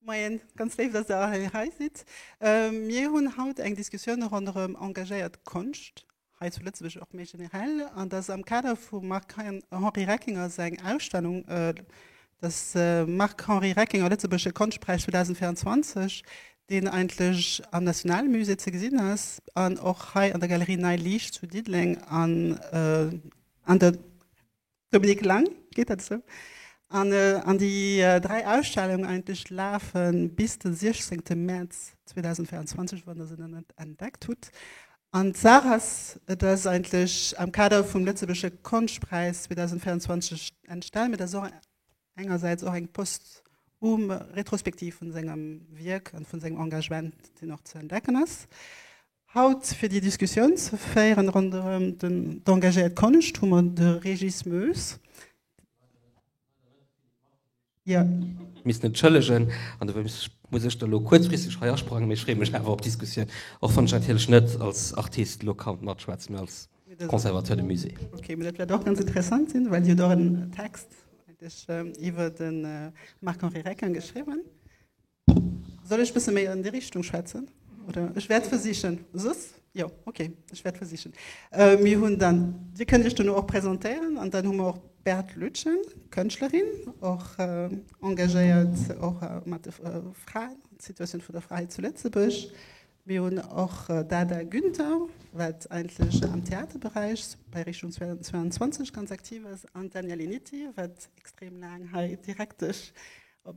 Moien, ganz léif, dass Der hei hei sidd. Mir hunn haut eng Diskussioun ronderëm engagéiert Konscht hei zu Lëtzebuerg, och méi generell. An dat ass am Kader vum Marc-Henri Reckinger seng Ausstellung, dass Marc-Henri Reckinger, Lëtzebuergesche Konschtpräis 2024, deen eigentlech am Nationalmusée ze gesinn ass an och hei an der Galerie Nei Liicht zu Diddeleng an der. Dominique Lang, Geet dat esou? An déi dräi Ausstellungen eigentlech lafe bis de 16 Mäerz 2024, wann Der se nach net entdeckt hutt. An d'Saach ass, et ass eigentlech am Kader vum Lëtzebuergesche Konschtpräis 2024 entstanen, mee dat ass och eng. engersäits och eng posthum Retrospektiv vun sengem Wierk an vun sengem Engagement, deen och ze entdecken ass haut. Fir déi Diskussioun ze féieren ronderëm d'engagéiert Konscht hu mer de Régis Moes. Misst entschëllegen an dofir muss ech da elo kuerzfristeg hei asprangen, mee ech freeë mech awer op d'Diskussioun, och wann ech natierlech net als Artist elo ka matschwätzen, mee als. Conservatoire de Musée. Ok, mee dat wäert och ganz interessant sinn, well Dir hutt och en Text eigentlech iwwer de Marc-Henri Recquin geschriwwen. Soll ech e bësse méi an déi Richtung schwätzen oder? Ech wäert versichen. Soss? Jo, ok, ech wäert versichen. Mir hunn dann, Dir kënnt Iech duerno och presentéieren an dann hu mer och d'Beate Lütgen, Kënschtlerin, och engagéiert och mat de Fraen, d'Situatioun vun der Fra hei zu Lëtzebuerg. Mir hunn och d'Ada Günther, wat eigentlech am Theaterberäich bei Richtung 22 ganz aktiv ass, an d'Danièle Nitti, wat extrem laang hei Direktesch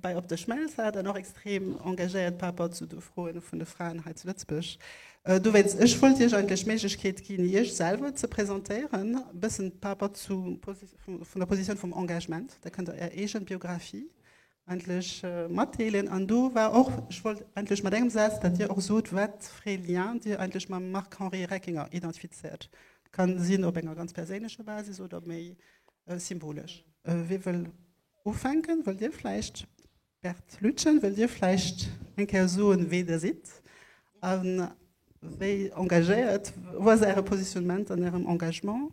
bei Op de Schmelz hat an och extrem engagéiert par rapport zu de Froe vun de Fraen hei zu Lëtzebuerg. Dowéinst, ech wollt Iech eigentlech d'Méiglechkeet ginn, Iech selwer ze presentéieren, e bëssen par rapport zu vun der Positioun vum Engagement. Da kënnt Der Är eege Biographie endlech matdeelen an do war och, ech wollt endlech mat engem Saz, datt Dir och sot, wat fir ee Lien Dir eigentlech mam Marc-Henri Reckinger identifizéiert. Kann sinn op enger ganz perséinlecher Basis oder méi symbolesch. Wie wëll ufänken? Wëllt Dir vläicht? Bert Lütgen, wëllt Dir vläicht eng Kéier soen, wee Der sidd a wéi engagéiert, wou ass Äre Positionnement an Ärem Engagement?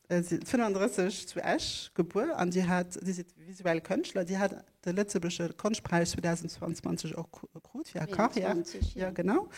Si ass 35 zu Esch gebuer an Dir hat, Dir sidd visuell Kënschtler, Dir hat de lëtzebuergesche Konschtpräis 2022 och krut fir Är Karriär. 21, ja. Ja, genau.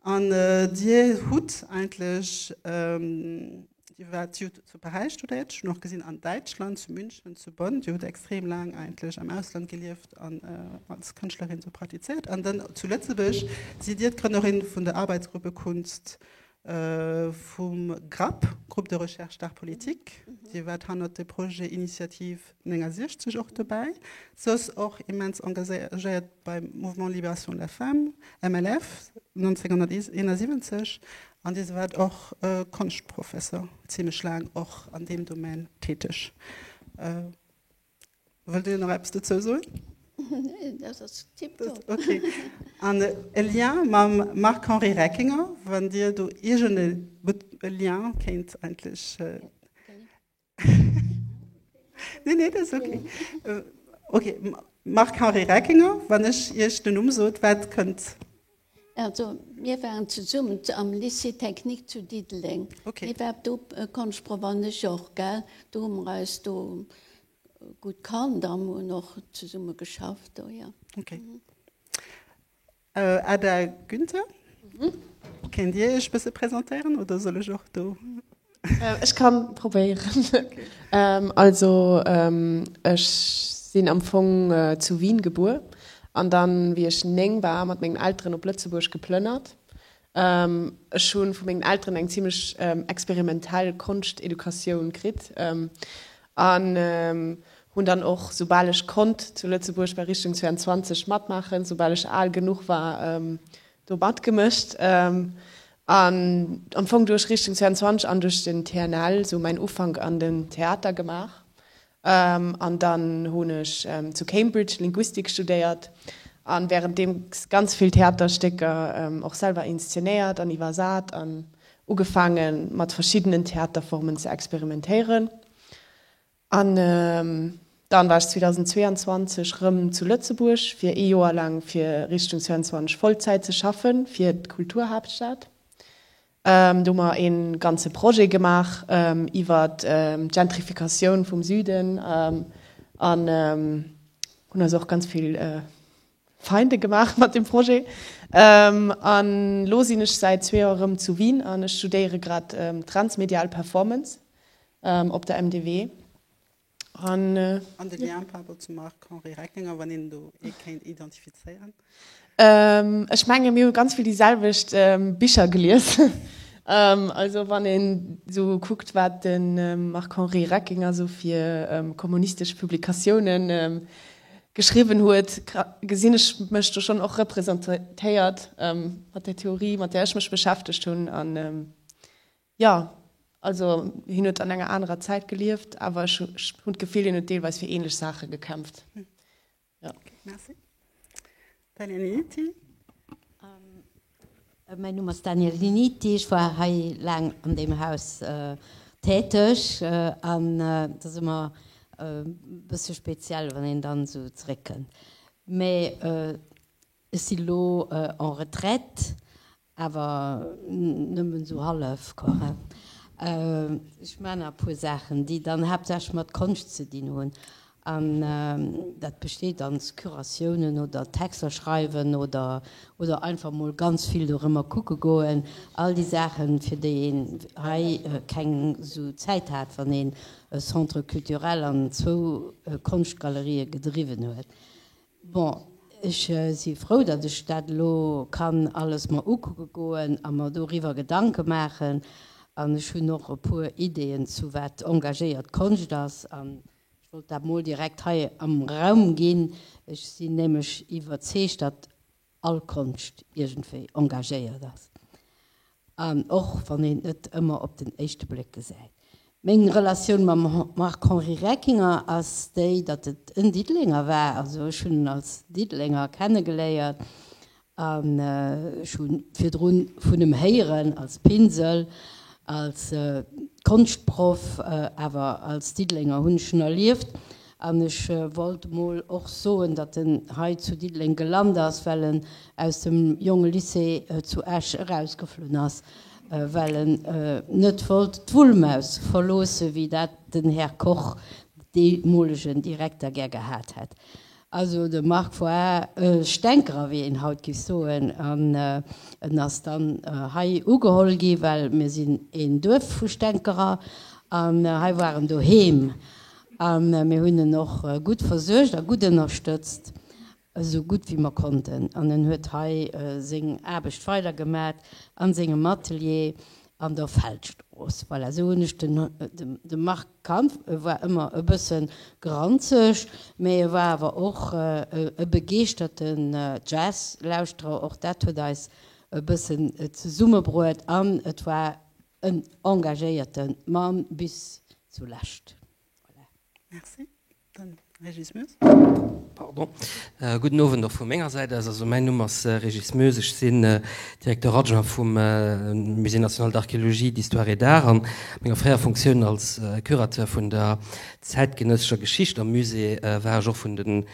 An Dir hutt eigentlech, Dir waart, Dir hutt zu Paräis studéiert, ech hunn och gesinn an Däitschland, zu München, zu Bonn, Dir hutt extrem laang eigentlech am Ausland gelieft an als Kënschtlerin do praktizéiert. An dann zu Lëtzebuerg sidd Dir d'Grënnerin vun der Arbeitsgruppe Kunst vum GRAP, Groupe de Recherche d'Art Politique. Dir waart hannert de Projet Initiative 69 och dobäi, soss och immens engagéiert beim Mouvement Libération de la Femme, MLF, 1971. An Dir waart och Konschtprofessor, zimmlech laang och an deem Domän täteg. Wëllt Dir nach eppes dozou soen? Neen, dat ass tiptop. Okay. An e Lien mam Marc-Henri Reckinger, wann Dir do iergend e e Lien kéint endlech. Neen, neen, dat ass okay. Okay, Marc-Henri Reckinger, wann ech Iech den Numm sot, wat kënnt? Also mir waren zesummen am Lycée technique zu Diddeleng. Okay. Dir waart do Konschtproff an ech och, gell? Do hu mer eis do gutt kannt an hunn och zesumme geschafft do, jo. Okay. Ada Günther, kéint Dir Iech e bësse presentéieren oder soll ech och do? Ech kann probéieren. Also ech sinn am Fong zu Wien gebuer an dann wéi ech 9 war mat mengen Elteren op Lëtzebuerg geplënnert. Ech hu vu mengen Elteren eng zimlech experimentell Konschteducatioun kritt an hunn dann och soubal ech konnt zu Lëtzebuerg bei Richtung 22 matmaachen, soubal ech al genuch war do matgemëcht an am Fong duerch Richtung 22 an duerch den TNL esou mäin Ufank an den Theater gemaach an dann hunn ech zu Cambridge Linguistik studéiert an währenddeems ganz vill Theaterstécker och selwer inszenéiert an iwwersat an ugefaangen mat verschiddenen Theaterformen ze experimentéieren An dann war ech 2022 rëm zu Lëtzebuerg fir ee Joer laang fir Richtung 22 Vollzäit ze schaffen fir d'Kulturhaaptstad. Do hu mer ee ganze Projet gemaach iwwer d'Gentrifikatioun vum Süden an hunn eis och ganz vill Feinde gemaach mat dem Projet an elo sinn ech säit zwee Joer erëm zu Wien an ech studéiere grad Transmedial Performance op der MDW. An de Lien parbor zum Marc-Henri Reckinger, wann een do ee kéint identifizéieren? Ech menge mir hu ganz vill déi selwecht Bicher gelies. Also wann een esou kuckt wat de Marc-Henri Reckinger esou fir kommunistesch Publikatiounen geschriwwen huet, gesinn ech mech do schonn och representéiert mat där Theorie, mat där ech mech beschäftegt hunn. An jo, also hien huet an enger anerer Zäit gelieft, awer ech hunn d'Gefill, hien huet deelweis fir änlech Saache gekämpft. Jo. Merci. Daniel Linnitti. Mäin Numm ass Daniel Linnitti. Ech war hei laang an deem Haus täteg an et ass ëmmer e bësse speziell, wann een dann esou zeréckkënnt. Mee ech si lo en retraite Awer nëmmen esou hallef kohärent. Ech man nach e puer Saachen, déi dann haaptsächlech mat Konscht ze dinn hunn. An dat besteet aus Curatiounen oder Texter schreiwen oder einfach mol ganz vill dorëmmer kucke goen. All déi Saachen, fir déi een hei keng esou Zäit hat, wann een e Centre culturel an zwou Konschtgalerië gedriwwen huet. Bon, ech si frou, datt ech dat elo kann alles mer ukucke goen a mer doriwwer Gedanke maachen. An ech hunn och e puer Ideeën zu wat engagéiert Konscht ass. An ech wollt dat mol direkt hei am Raum ginn. Ech sinn nämlech iwwerzeegt, datt. all Konscht iergendwéi engagéiert ass, an och wann een et net ëmmer op den éischte Bléck gesäit. Meng Relatioun mam Marc-Henri Reckinger ass déi, datt et en Diddelenger war, also ech hunn en als Diddelenger kennegeléiert, an ech hu virdru vun em héieren, als Pinsel, als Konschtproff, awer als Diddelenger hunn ech en erlieft. An ech wollt emol och soen, datt en hei zu Diddeleng gelant ass, well en aus dem Jonge Lycée zu Esch erausgeflunn ass, well en net wollt d'Wullmaus verloossen, wéi dat den Här Koch, deemolegen Direkter, gär gehat hätt. Also de Marc Foix e Stänkerer, wéi een haut géif soen. An en ass dann hei ugeholl gi, well mir sinn een Duerf vu Stänkerer, an hei war en doheem. A mir hunn en och gutt versuergt a gutt ënnerstëtzt, esou gutt wéi mer konnten. An en huet hei seng Aarbecht weidergemat a sengem Atelier an der Feldstrooss. Voilà, esou hunn ech den, de Marc kannt. E war ëmmer e bësse granzeg, mä e war awer och e begeeschterte Jazzlauschterer. Och dat huet eis e bëssen zesummebruet an et war En engagéierte Mann bis zulescht. Merci. Den Régis Moes. Pardon. Gudden Owend och vu menger Säit aus. Also mäin Numm ass Régis Moes. Ech sinn Directeur adjoint vum Musée national d'archéologie, d'histoire et d'art a menger fréierer Funktioun als Curateur vun der zäitgenëssescher Geschicht am Musée war ech och vun de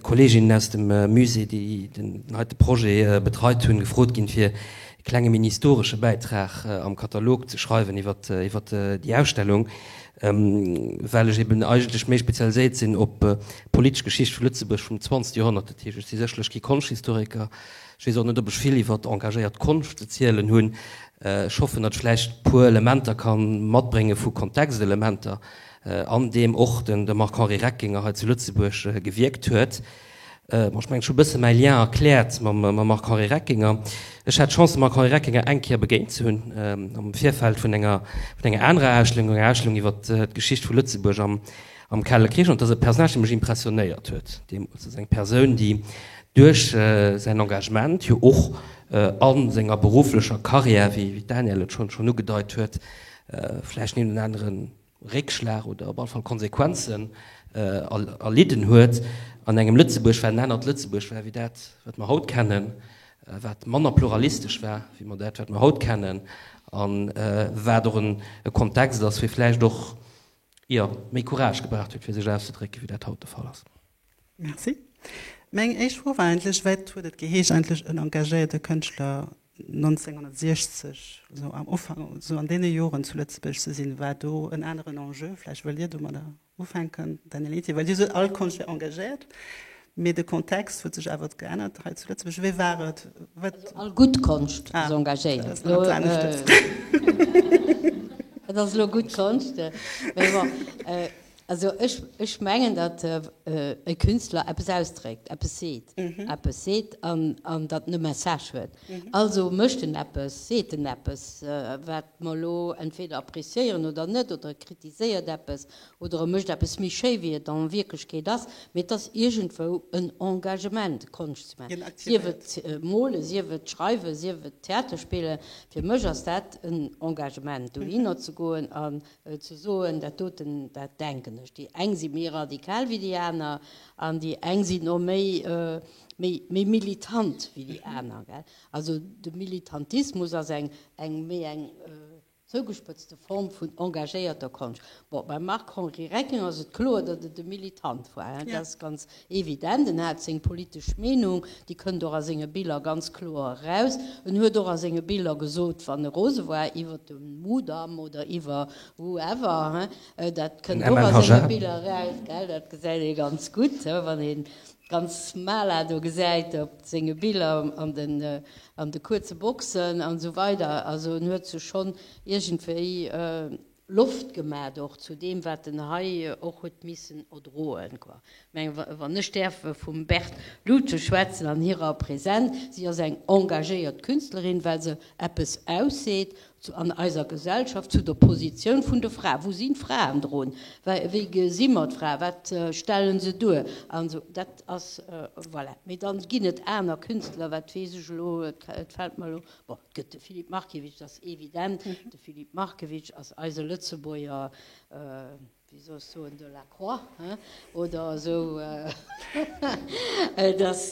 Kolleeginnen aus dem Musée, déi den heite Projet betreit hunn, gefrot ginn, fir e klenge mini-historesche Bäitrag am Katalog ze schreiwen iwwer déi Ausstellung, well ech eben eigentlech méi spezialiséiert sinn op d'politesch Geschicht vu Lëtzebuerg vum zwanzegste Joerhonnert. Dat heescht, ech si sécherlech kee Konschthistoriker, ech weess och net, ob ech vill iwwer engagéiert Konscht ze zielen hunn. Ech hoffen, datt ech vläicht e puer Elementer ka matbrénge vu Kontextelementer, an deem och de Marc-Henri Reckinger hei zu Lëtzebuerg gewierkt huet. Bon, ech mengen, ech hu bësse mäi Lien erkläert mam Marc Henri Reckinger. Ech hat d'Chance, dem Marc Henri Reckinger eng Kéier begéint ze hunn am Virfeld vun enger anerer Ausstellung, enger Ausstellung iwwer d'Geschicht vu Lëtzebuerg am Kale Krich. An et ass e Personnage, dee mech impressionéiert huet deemools. Et ass eng Persoun, déi duerch säin Engagement, jo och a senger berufflecher Karriär, wéi d'Danièle et schonn ugedeit huet, vläicht den een oder aneren Réckschlag oder op alle Fall Konsequenzen erlidden huet an engem Lëtzebuerg, wat en anert Lëtzebuerg war wéi dat, wat mer haut kennen, wat manner pluralistesch war wéi mer dat, wat mer haut kennen, a wat och e Kontext ass, dee vläicht och, jo, méi Courage gebraucht huet, fir sech auszedrécken, wéi dat haut de Fall ass. Merci. Meng éischt Fro war eigentlech, Wat huet et geheescht, eigentlech en engagéierte Kënschtler 1960, esou am Ufank, esou an deene Joren zu Lëtzebuerg ze sinn? War do en aneren Enjeu? Vläicht wëllt Dir domadder ufänken, Daniel Eti, well Dir sot, all Konscht wär engagéiert, mee de Kontext huet sech awer geännert hei zu Lëtzebuerg. Wéi war et? Wat. Also all gutt Konscht ass engagéiert. Ah, dat ass nach eppes anescht. Et ass elo gutt Konscht, mee bon. Also ech mengen, datt e Künstler eppes ausdréckt, eppes seet, eppes seet an datt en e Message huet. Also mécht en eppes, seet en eppes, wat mer elo entweder appréciéieren oder net, oder e kritiséiert eppes oder e mécht eppes méi schéi, wéi et an Wierklechkeet ass. Mee et ass iergendwou en Engagement, Konscht ze maachen. Sief et molen, sief et schreiwen, sief et Theater spillen. Fir mech ass dat en Engagement, dohinner ze goen a ze soen, dat doten, dat denken ech, déi eng si méi radikal wéi déi aner an déi eng sinn och méi, méi, méi militant wéi déi aner, gell. Also de Militantismus ass eng, eng méi eng zougespëtzte Form vun engagéierter Konscht. Bon, beim Marc-Henri Recking ass et kloer, datt et e Militant war, dat ass ganz, Evident, en hat seng politesch Meenung, déi kënnt och a senge Biller ganz kloer eraus. En huet och a senge Biller gesot, wann e rose war iwwer de Mudam oder iwwer whoever, dat kënnt och a senge Biller eraus, gell, dat gesäit ee ganz gutt, wann ee ganz Mala do gesäit op senge Biller an de kuerze Boxen an esou weider. Also en huet sech schonn iergendwéi Loft gemat och zu deem wat en hei och huet missen erdroen. Meng wann ech däerf vum Berthe Ludwig schwätzen an hirer Präsent, si ass eng engagéiert Künstlerin well se eppes ausseet an eiser Gesellschaft zu der Positioun vun de Frae. Wou sinn d'Fraen drun? Wéi gesi mer d'Frae? Wat stellen se duer? An esou dat ass voilà. Mee dann ginn et aner Künstler, wat weess ech elo, et fällt mer elo Bon, et gëtt de Philippe Markiewicz, dat ass evident. De Philippe Markiewicz ass eise Lëtzebuerger, wéi soll ech soen, Delacroix, he? Oder esou. Et ass,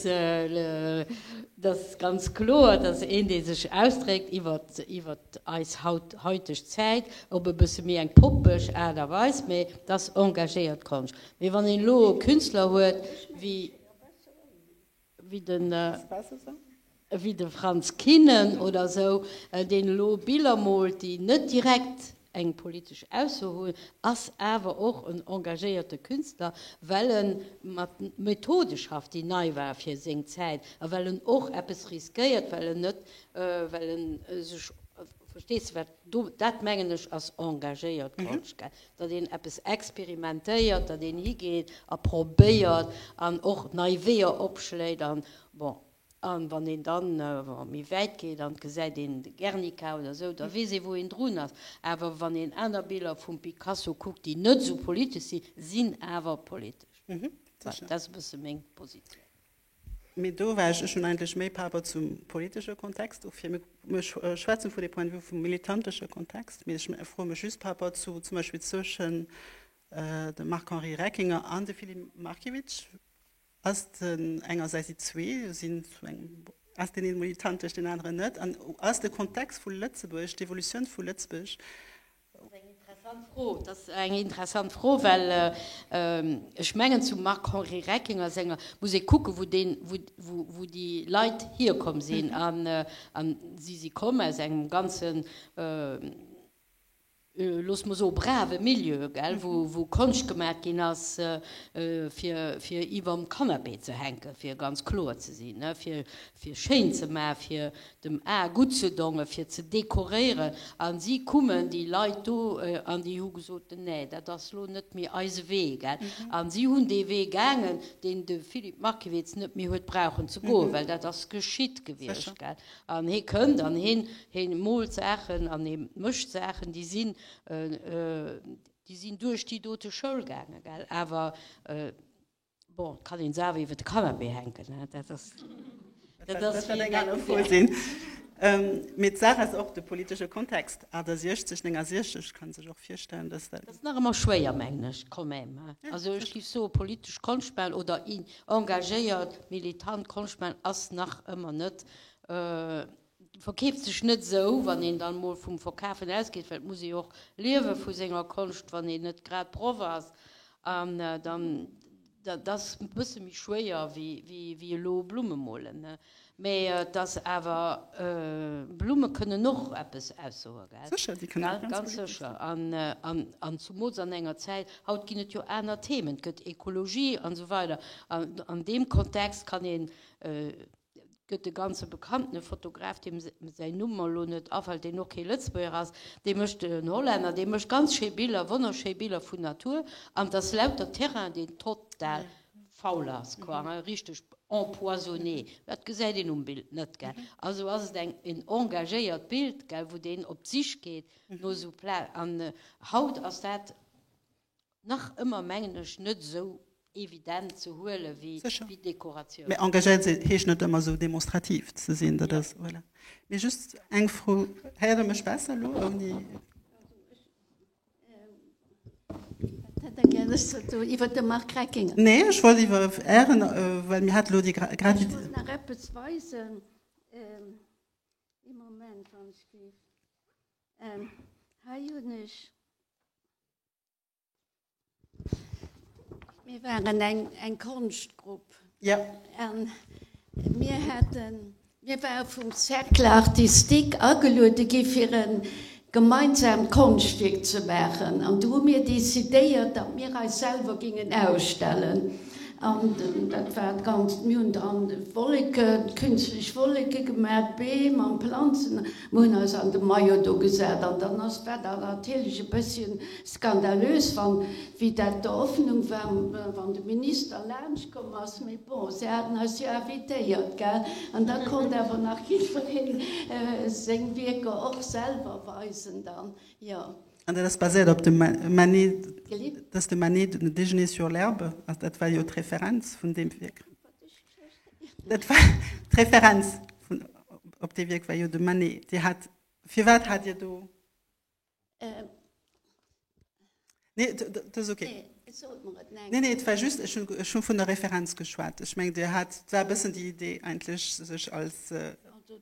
dat ass ganz kloer, dat ass een, dee sech ausdréckt iwwer eis hauteg Zäit, op e bësse méi eng poppeg Aart a Weis, mä dat ass engagéiert Konscht. Mee wann een elo e Künstler huet wéi. ewéi de Franz Kinnen oder esou, deen elo Biller moolt, déi net direkt eng politesch Ausso hunn, ass awer och en engagéierte Künstler, well e mat Methode schafft, déi nei war fir seng Zäit, a well en och eppes riskéiert, well en net, well e sech, verstees de, wat Dat mengen ech ass engagéiert Konschtgeld, datt een eppes experimentéiert, datt een higeet a probéiert an och nei Weeër opschléit. An bon, a wann een dann méi wäit geet an et gesäit een de Guernica oder esou, da weess ee wou een drun ass. Awer wann een aner Biller vum Picasso kuckt, déi net esou politesch sinn, sinn awer politesch. Dat ass e bësse meng Positioun. Mee do war ech, ech hunn eigentlech méi par rapport zum politesche Kontext ufir, mir schwätzen vu de Point de vue vum militantesche Kontext, mee ech froe mech just par rapport zu zum Beispill zwëschen dem Marc-Henri Reckinger an dem Philippe Markiewicz, ass den engersäits, déi zwee sinn zu engem, ass deen ee militantesch, deen aneren net? An ass de Kontext vu Lëtzebuerg, d'Evolutioun vu Lëtzbuerg Dat ass eng interessant Fro, well ech mengen zum Marc-Henri Reckinger senger muss ee kucken, wou déi Leit hierkomm sinn. A si si komm aus engem ganzen, loosse mer soe brave Milieu, wou Konscht gemaach ginn ass, fir iwwerm Kannapee ze hänken, fir ganz kloer ze sinn, fir schéin ze maachen, dem A gutt ze dongen, fir ze dekoréieren, a si kummen, déi Leit do, an déi hu gesot, Nä, dat ass lo net méi eise Wee. Gell? A si hunn dee Wee gaangen, deen de Philippe Markiewicz net méi huet brauchen ze goen, well dat ass geschitt gewiescht. Gell? An hee kënnt an heen, heen moolt Saachen an hee mécht Saachen, déi sinn, déi sinn duerch déi dote Schoul gaangen. Gell? Awer. Bon, et kann een se awer iwwer de Canapé hänken, he? Dat ass, dat ass fir eng aner Fro. Mee d'Saach ass och de politesche Kontext, 68, 69 ka sech och virstellen, dass dat. Dat ass nach ëmmer schwéier, mengen ech, quand même, he? Also ech géif soen, politesch Konschtmachen oder engagéiert, militant Konschtmachen ass nach ëmmer net. Verkeeft sech net esou, wann een dann emol vum Verkafen ausgeet, well et muss ee jo och liewe vu senger Konscht, wann een net grad Proff ass. An dann, dat ass e bësse méi schwéier wéi elo Blumme molen, mä et ass awer, Blumme kënnen och eppes aussoe, gell? Sécher, si kënnen eppes aussoen. Ganz sécher. An zumools an enger Zäit, haut ginn et jo aner Themen, et gëtt Ekologie an esou weider. An deem Kontext kann een gëtt de ganze bekannte Fotograf, deem säin Numm mer elo net afält, deen och kee Lëtzebuerger ass, dee mécht, en Hollänner, dee mécht ganz schéi Biller, wonnerschéi Biller vun Natur, an et ass lauter Terrain, deen total faul ass, quoi, hein, richteg empoisonné. Dat gesäit een um Bild net, gell. Also ass et eng, en engagéiert Bild, gell, wou deen op d'Sich geet no esou Pla. An haut ass dat nach ëmmer, mengen ech, net esou evident ze huele wéi Dekoratioun. Sécher. Mä engagéiert sinn heescht net ëmmer esou demonstrativ ze sinn. Dat ass, voilà. Mee just eng Fro, Héiert Der mech besser elo ouni? Wat hätt Der gär, ech sollt soen iwwer de Marc Reckinger? Nee, ech wollt iwwer Ären, well mir hat elo déi Gravité. Ech wollt nach eppes weisen. Ee Moment, wann ech géif. Hei hunn ech. Mir waren eng, eng Konschtgrupp. Ja. An mir haten, mir ware vum Cercle artistique ageluede gi fir e gemeinsaamt Konschtwierk ze maachen. An du hu mir decidéiert, datt mir eis selwer gingen ausstellen. An dat war d'ganzt, mir hunn dann Wolleken, künstlich Wolleke gemat, Beem an Planzen. Mir hunn eis an de Maillot do gesat an dann ass dat natierlech e bëssche skandalös, wann, wéi dat d'Eröffnung war, wann de Minister laanschtkomm ass, mee bon, se haten eis jo invitéiert, gell, an da konnt awer nach jiddwereen seng Wierker och selwer weisen dann, jo. An dat ass baséiert op dem Manet, dat ass de Manet, le déjeuner sur l'herbe, dat war jo d'Referenz vun deem Wierk. Dat war d'Referenz vun op dee Wierk war jo de Manet. Dir hat, firwat hat Dir do? Euh, Nee, d- d- dat ass okay. nee, et sot mer et neng. Nee, nee, et war just, ech hunn ech hunn vun der Referenz geschwat. Ech mengen, Dir hat, dat war e bëssen déi Idee eigentlech, sech als, äh, Also,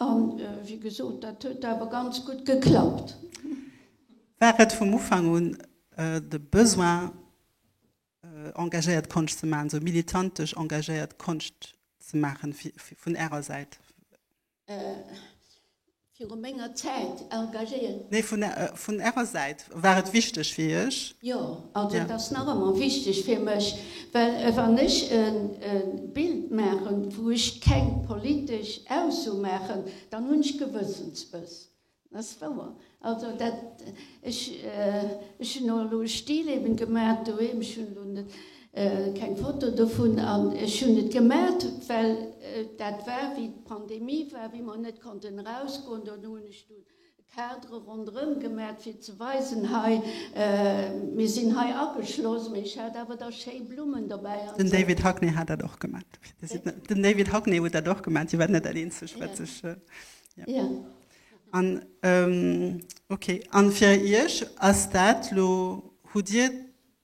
A wéi gesot, dat huet awer ganz gutt geklappt. War et vum Ufank un de Besoin, engagéiert Konscht ze maachen, esou militantesch engagéiert Konscht ze maachen vun Ärer Säit? Viru menger Zäit engagéiert? Nee, vun Ärer Säit. War et wichteg fir Iech? Jo, also et ass nach ëmmer wichteg fir mech, well wann ech e Bild maachen, wou ech keng politesch Ausso maachen, dann hunn ech Gewëssensbëss. Dat ass wouer. Also dat, ech, ech hunn och elo e Stilleben gemaach doheem, ech hunn elo net keng Foto dovun, an ech hunn et gemaach, well dat war wéi d'Pandemie war, wéi mer net konnten erausgoen, dann hunn ech do E Cadre ronderëm gemaacht fir ze weisen, hei mir sinn hei ageschloss, mee ech hat awer da schéi Blummen dobäi an Den esou. David Hockney hat dat och gemaacht. Bitte? Den David Hockney huet dat och gemaacht, si war net dat eenzegt wat sech, jo. Jo. An ok, an fir Iech ass dat lo, hutt Dir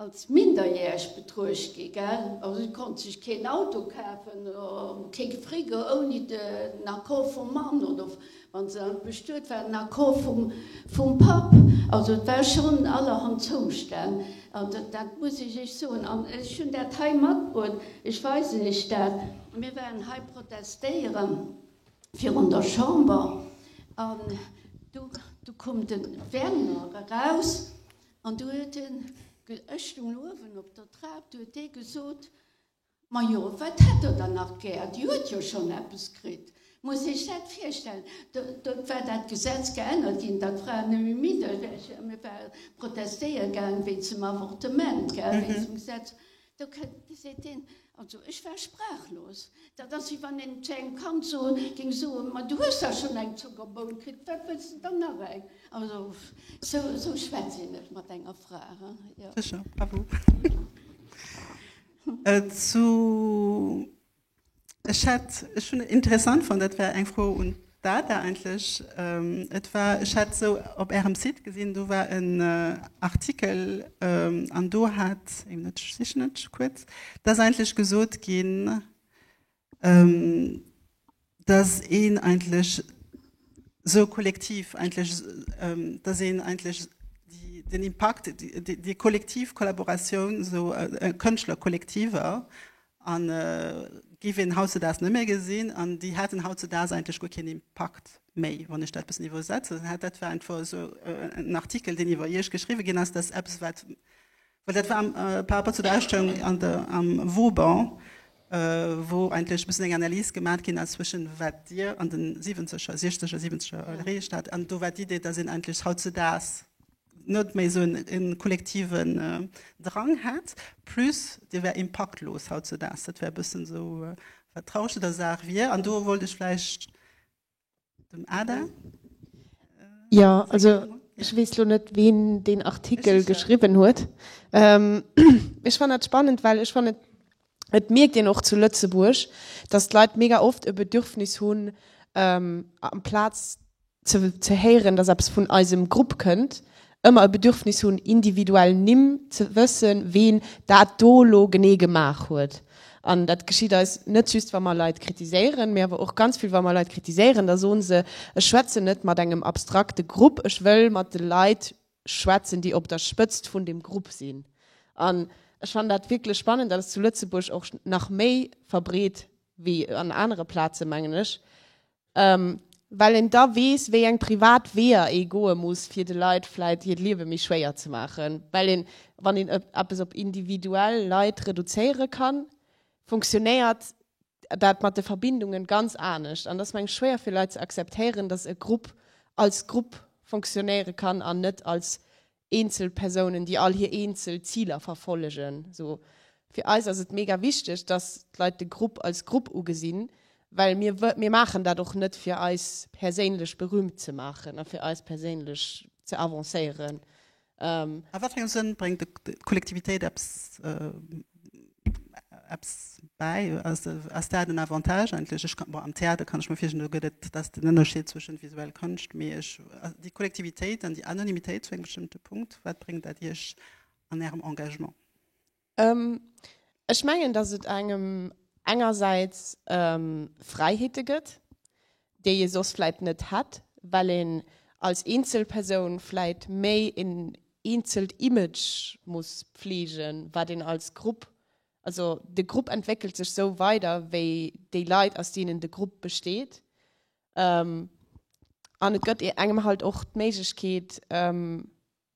Als minderjähreg betruecht gi gell? Also si konnt sech keen Auto kafen, kee Frigo ouni den Accord vum Mann oder wann se dann bestuet war den Accord vum Papp. Also et war schonn allerhand Zoustänn an dat muss ech iech soen an ech hunn dat hei matbruet, ech weisen iech dat. Mir waren hei protestéiere virun der Chamber an du koum de Werner eraus. An du huet en, ech stoung uewen op der Trap, du huet dee gesot, Majo, wat hätt der dann nach gär, déi huet jo schonn eppes kritt. Muss Iech dat virstellen, do war dat Gesetz geännert ginn, datt Fraen nëmme Minderjäreg, mir ware protestéiere gaangen wéinst dem Avortement, wéinst dem Gesetz. Do kënnt, geséit een, also ech war sprachlos. Dat ass wéi wann een zu engem Kand soen, géing soen, ma du hues da schonn eng Zuckerboun kritt, wat wëlls de dann nach eng? Also sou, sou schwätzt een net mat enger Fra, hein? Sécher, bravo. Zu. Ech hätt, ech hunn interessant fonnt, dat war eng Fro un d'Ada eigentlech, et war, ech hat esou op Ärem Site gesinn, do war en Artikel an do hat, ee Minutt, ech sichen et kuerz, et ass eigentlech gesot ginn, datt een eigentlech esou kollektiv eigentlech, datt een eigentlech den Impakt, déi kollektiv Kollaboratioun, esou Kënschtlerkollektiver An giff een hautzedaags net méi gesinn. An déi hätten hautzedaags eigentlech guer keen Impakt méi, wann ech dat bessen iwwersetzen hätt. Dat war einfach esou en Artikel, deen iwwer Iech geschriwwe ginn ass. Dat ass eppes, wat, well dat war par rapport zu der Ausstellung an der, am Vauban, wou eigentlech e bëssen eng Analys gemaat ginn ass zwëschen wat Dir an de Siwenzeger, Siechzeger, Siwenzeger, erreecht hat, an do war d'Idee, dass een eigentlech hautzedaags net méi esou e kollektiven Drang hätt, plus dee wär impaktlos hautzedaags. Dat wär e bëssen esou, wat d'Rausch un der Saach wier. An do wollt ech vläicht dem Ada seng Meenung. Ech weess lo net, ween deen Artikel geschriwwen huet. Ech fannen dat spannend, well ech fannen, Et mierkt een och zu Lëtzebuerg, dass d'Leit mega oft e Bedürfnis hunn, amplaz ze ze héieren, dass eppes vun eisem Grupp kënnt, ëmmer e Bedürfnis hunn, individuell Nimm, ze wëssen, ween dat do elo genee gemaach huet. An dat geschitt eis net just, wa mer Leit kritiséieren, mee awer och ganz vill, wa mer Leit kritiséieren, da soen se, Ech schwätzen net mat engem abstrakte Grupp, ech wëll mat de Leit schwätzen, déi op der Spëtzt vun deem Grupp sinn. An ech fannen dat wierklech spannend. Dat ass zu Lëtzebuerg och nach méi verbreet wéi an anere Plazen, mengen ech, well een da weess, wéi eng privat Weeër ee goe muss, fir de Leit vläicht hiert Liewe méi schwéier ze maachen, well een, wann een eppes op individuell Leit reduzéiere kann, funktionéiert dat mat de Verbindungen ganz anescht. An et ass mengen schwéier fir Leit ze akzeptéieren, dass e Grupp als Grupp funktionéiere kann an net als eenzel Persounen, déi all hir eenzel Ziler verfollegen. So fir eis ass et mega wichteg, dass d'Leit de Grupp als Grupp ugesinn, well mir mir maachen dat och net fir eis perséinlech berühmt ze maachen a fir eis perséinlech ze avancéieren. An wat fir engem Sënn bréngt d'Kollektivitéit eppes bäi? Ass dat en Avantage eigentlech? Bon, am Theater kann ech mir virstellen, do gëtt et, dat ass den Ënnerscheed zwëschent visuell Konscht, mee ech, déi Kollektivitéit an déi Anonymitéit zu engem bestëmmte Punkt, wat bréngt dat Iech an Ärem Engagement? Ech mengen, datt et engem engersäits Fräiheete gëtt, déi ee soss vläicht net hätt, well een als Eenzelpersoun vläicht méi een eenzelt Image muss pfleegen, wat een als Grupp, also de Grupp entwéckelt sech sou weider wéi déi Leit aus deenen de Grupp besteet. An et gëtt engem halt och d'Méiglechkeet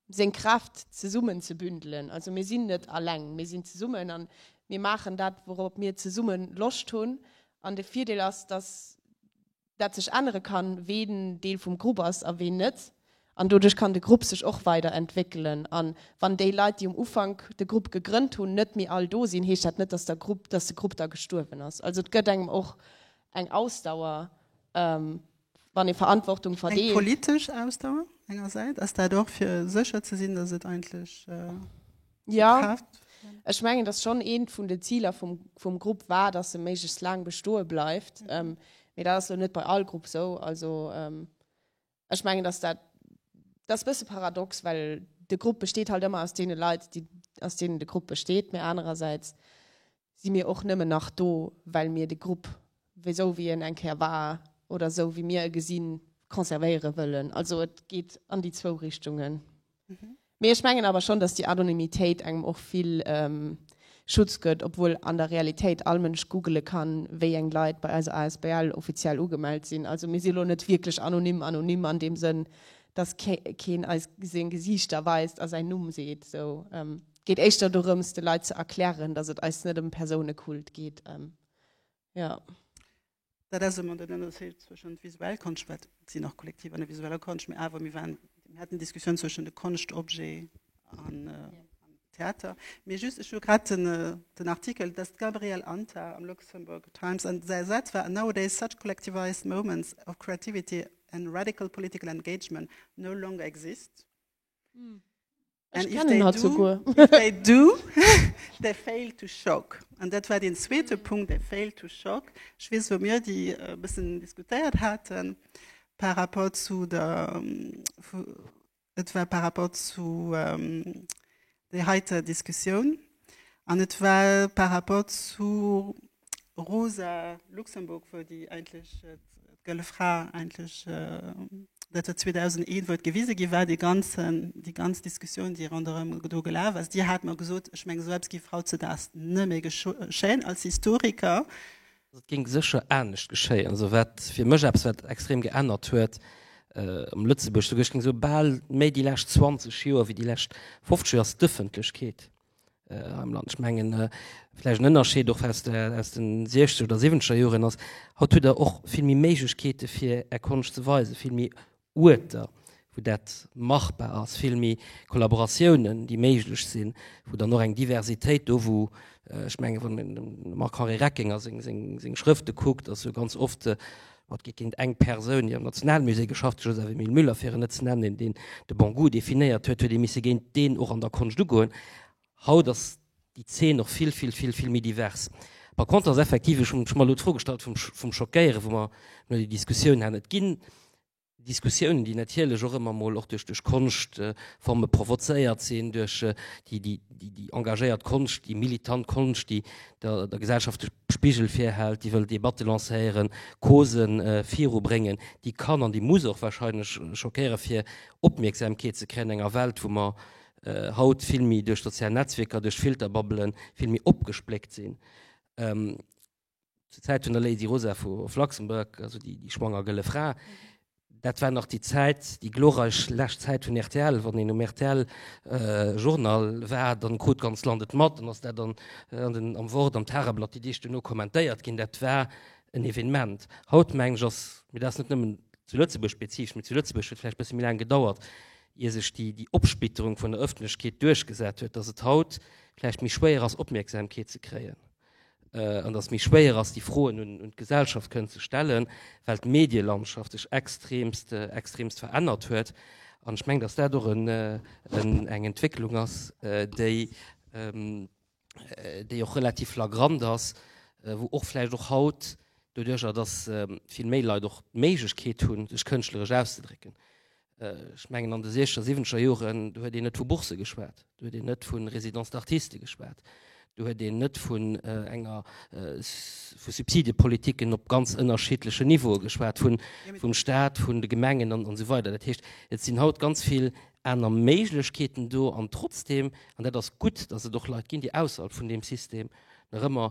seng Kräft zesummen ze bündelen. Also mir sinn net alleng, mir sinn zesummen an mir maachen dat, wourop mir zesumme Loscht hunn. An de Virdeel ass, dass dat sech ännere kann, ween Deel vum Grupp ass a ween net. An doduerch kann de Grupp sech och weider entwéckelen. A wann déi Leit, déi um Ufank de Grupp gegrënnt hunn, net méi all do sinn, heescht dat net, dass der Grupp, dass de Grupp da gestuerwen ass. Also et gëtt engem och eng Ausdauer Wann ee Verantwortung verdeelt. Eng politesch Ausdauer engersäits, ass dat och fir sécher ze sinn, datt et eigentlech gebraucht gëtt? Jo, ech mengen, datt schonn eent vun den Ziler vum Grupp war, datt e méiglechst laang bestoe bleift. Mee dat ass elo net bei all Grupp esou. Also ech mengen, datt dat ass e bësse paradox, well de Grupp besteet halt ëmmer aus deene Leit, déi aus deenen de Grupp besteet, mee anerersäits Si mir och nëmmen nach do, well mir de Grupp wéisou wéi en eng Kéier war oder esou wéi mir e gesinn, conservéiere wëllen. Also et geet an déi zwou Richtungen. Mee ech mengen awer schonn, datt déi Anonymitéit engem och vill Schutz gëtt, obwuel an der Realitéit all Mënsch googele kann, wéi eng Leit bei eiser asbl offiziell ugemellt sinn. Also mir si lo net wierklech anonym anonym an deem Sënn, datt keen eis seng Gesiichter weist a säin Numm seet esou. geet éischter dorëms de Leit ze erklären, dass et eis net ëm Persounekult geet. Jo. Dat ass ëmmer den Ënnerscheed zwëschent visuell Konscht, wat et sinn och Kollektiv an der visueller Konscht, mee awer mir waren, mir haten d'Diskussioun zwëschent de Konschtobjet an Theater. Mee just, ech hu grad den den Artikel, et ass d'Gabrielle Anta am Luxembourg Times an säi Saz war, Nowadays such collectivized moments of creativity and radical political engagement no longer exist. Ech kennen hat souguer. If they do, they fail to shock. An dat war den zweete Punkt, they fail to shock. Ech weess, wou mir déi e bëssen diskutéiert haten par rapport zu der, et war par rapport zu där heiter Diskussioun an et war par rapport zu, Rosa Luxemburg wou déi eigentlech d'Gëlle Fra eigentlech, dat huet 2001, wou et gewise gi war, dee ganzen, déi ganz Diskussioun, déi ronderëm do gelaf ass, Dir hat mer gesot, ech menge sou eppes géif hautzedags net méi geschéien. Als Historiker. Also et géing sécher anescht geschéien. Also wat fir mech eppes, wat extrem geännert huet am Lëtzebuerg, souguer ech géing soe bal méi déi lescht 20 Joer wéi déi lescht 50 Joer, ass d'Ëffentlechkeet. äh, am Land. Ech mengen äh, vläicht en Ënnerscheed och aus, der, aus den 60 oder 70er Joren ass, haut huet der och vill méi Méiglechkeete fir Är Konscht ze weisen, vill méi Uerter wou dat machbar ass, vill méi Kollaboratiounen déi méiglech sinn, wou dann och eng Diversitéit do wou ech äh, mengen wann den Marc-Henri Reckinger seng, seng, seng Schrëfte kuckt, ass jo ganz oft äh, Et geet géint eng Persoun, déi am Nationalmusée geschafft huet, Joseph Emile Müller fir en net ze nennen, deen de Bon Goût definéiert huet, huet ee misse géint deen och an der Konscht ugoen. Haut ass déi Zeen och vill, vill, vill, vill méi divers. Par contre ass effektiv, ech hunn mech elo d'Fro gestallt vum Schockéieren, wou mer elo déi Diskussioun haten, et ginn Diskussiounen, déi natierlech och ëmmer emol och duerch duerch Konschtforme provozéiert sinn, duerch déi déi déi déi engagéiert Konscht, déi militant Konscht, déi der der Gesellschaft de Spigel virhält, déi wëll Debatte lancéieren, Cause viru bréngen, déi kann an déi muss och wahrscheinlech schockéiere fir Opmierksamkeet ze kréien an enger Welt, wou mer haut vill méi duerch sozial Netzwierker, duerch Filterbubbelen vill méi opgespléckt sinn. zur Zäit vun der Lady Rosa vu of Luxembourg, also déi schwanger gëlle Fra, dat war nach déi Zäit, déi glorreich lescht Zäit vun rtl. Wann een um RTL-Journal war, dann krut d'ganzt Land et mat, dann ass dat an an den am Wort, am Tageblatt déi Deeg duerno kommentéiert ginn. Dat war en Evenement. Haut, mengen ech, ass, mee dat ass net nëmmen zu Lëtzebuerg spezifesch, mee zu Lëtzebuerg huet et vläicht e bësse méi laang gedauert, ier sech déi déi Opsplitterung vun der Öffentlechkeet duerchgesat huet, dass et haut vläicht méi schwéier ass, Opmierksamkeet ze kréien. an dass méi schwéier ass déi Froen un un d'Gesellschaft kënnen ze stellen, well d'Medielandschaft sech extremst extremst verännert huet. An ech mengen, dass dat och en en eng Entwécklung ass, déi déi och relativ flagrant ass, wou och vläicht och haut doduercher, dass vill méi Leit och d'Méiglechkeet hunn sech kënschtleresch auszedrécken, Ech mengen an de siechzeger, siwwenzeger Joren, do huet een net vu Bourse geschwat, do huet een net vu Résidence d'artiste geschwat, do huet een net vun enger vu Subsidiepolitiken op ganz ënnerschiddlechen Niveaue geschwat, vum Stat, vun de Gemengen an esou weider. Dat heescht, et sinn haut ganz vill aner Méiglechkeeten do. An trotzdeem, an dat ass gutt, datt et och Leit ginn, déi ausserhalb vun deem System nach ëmmer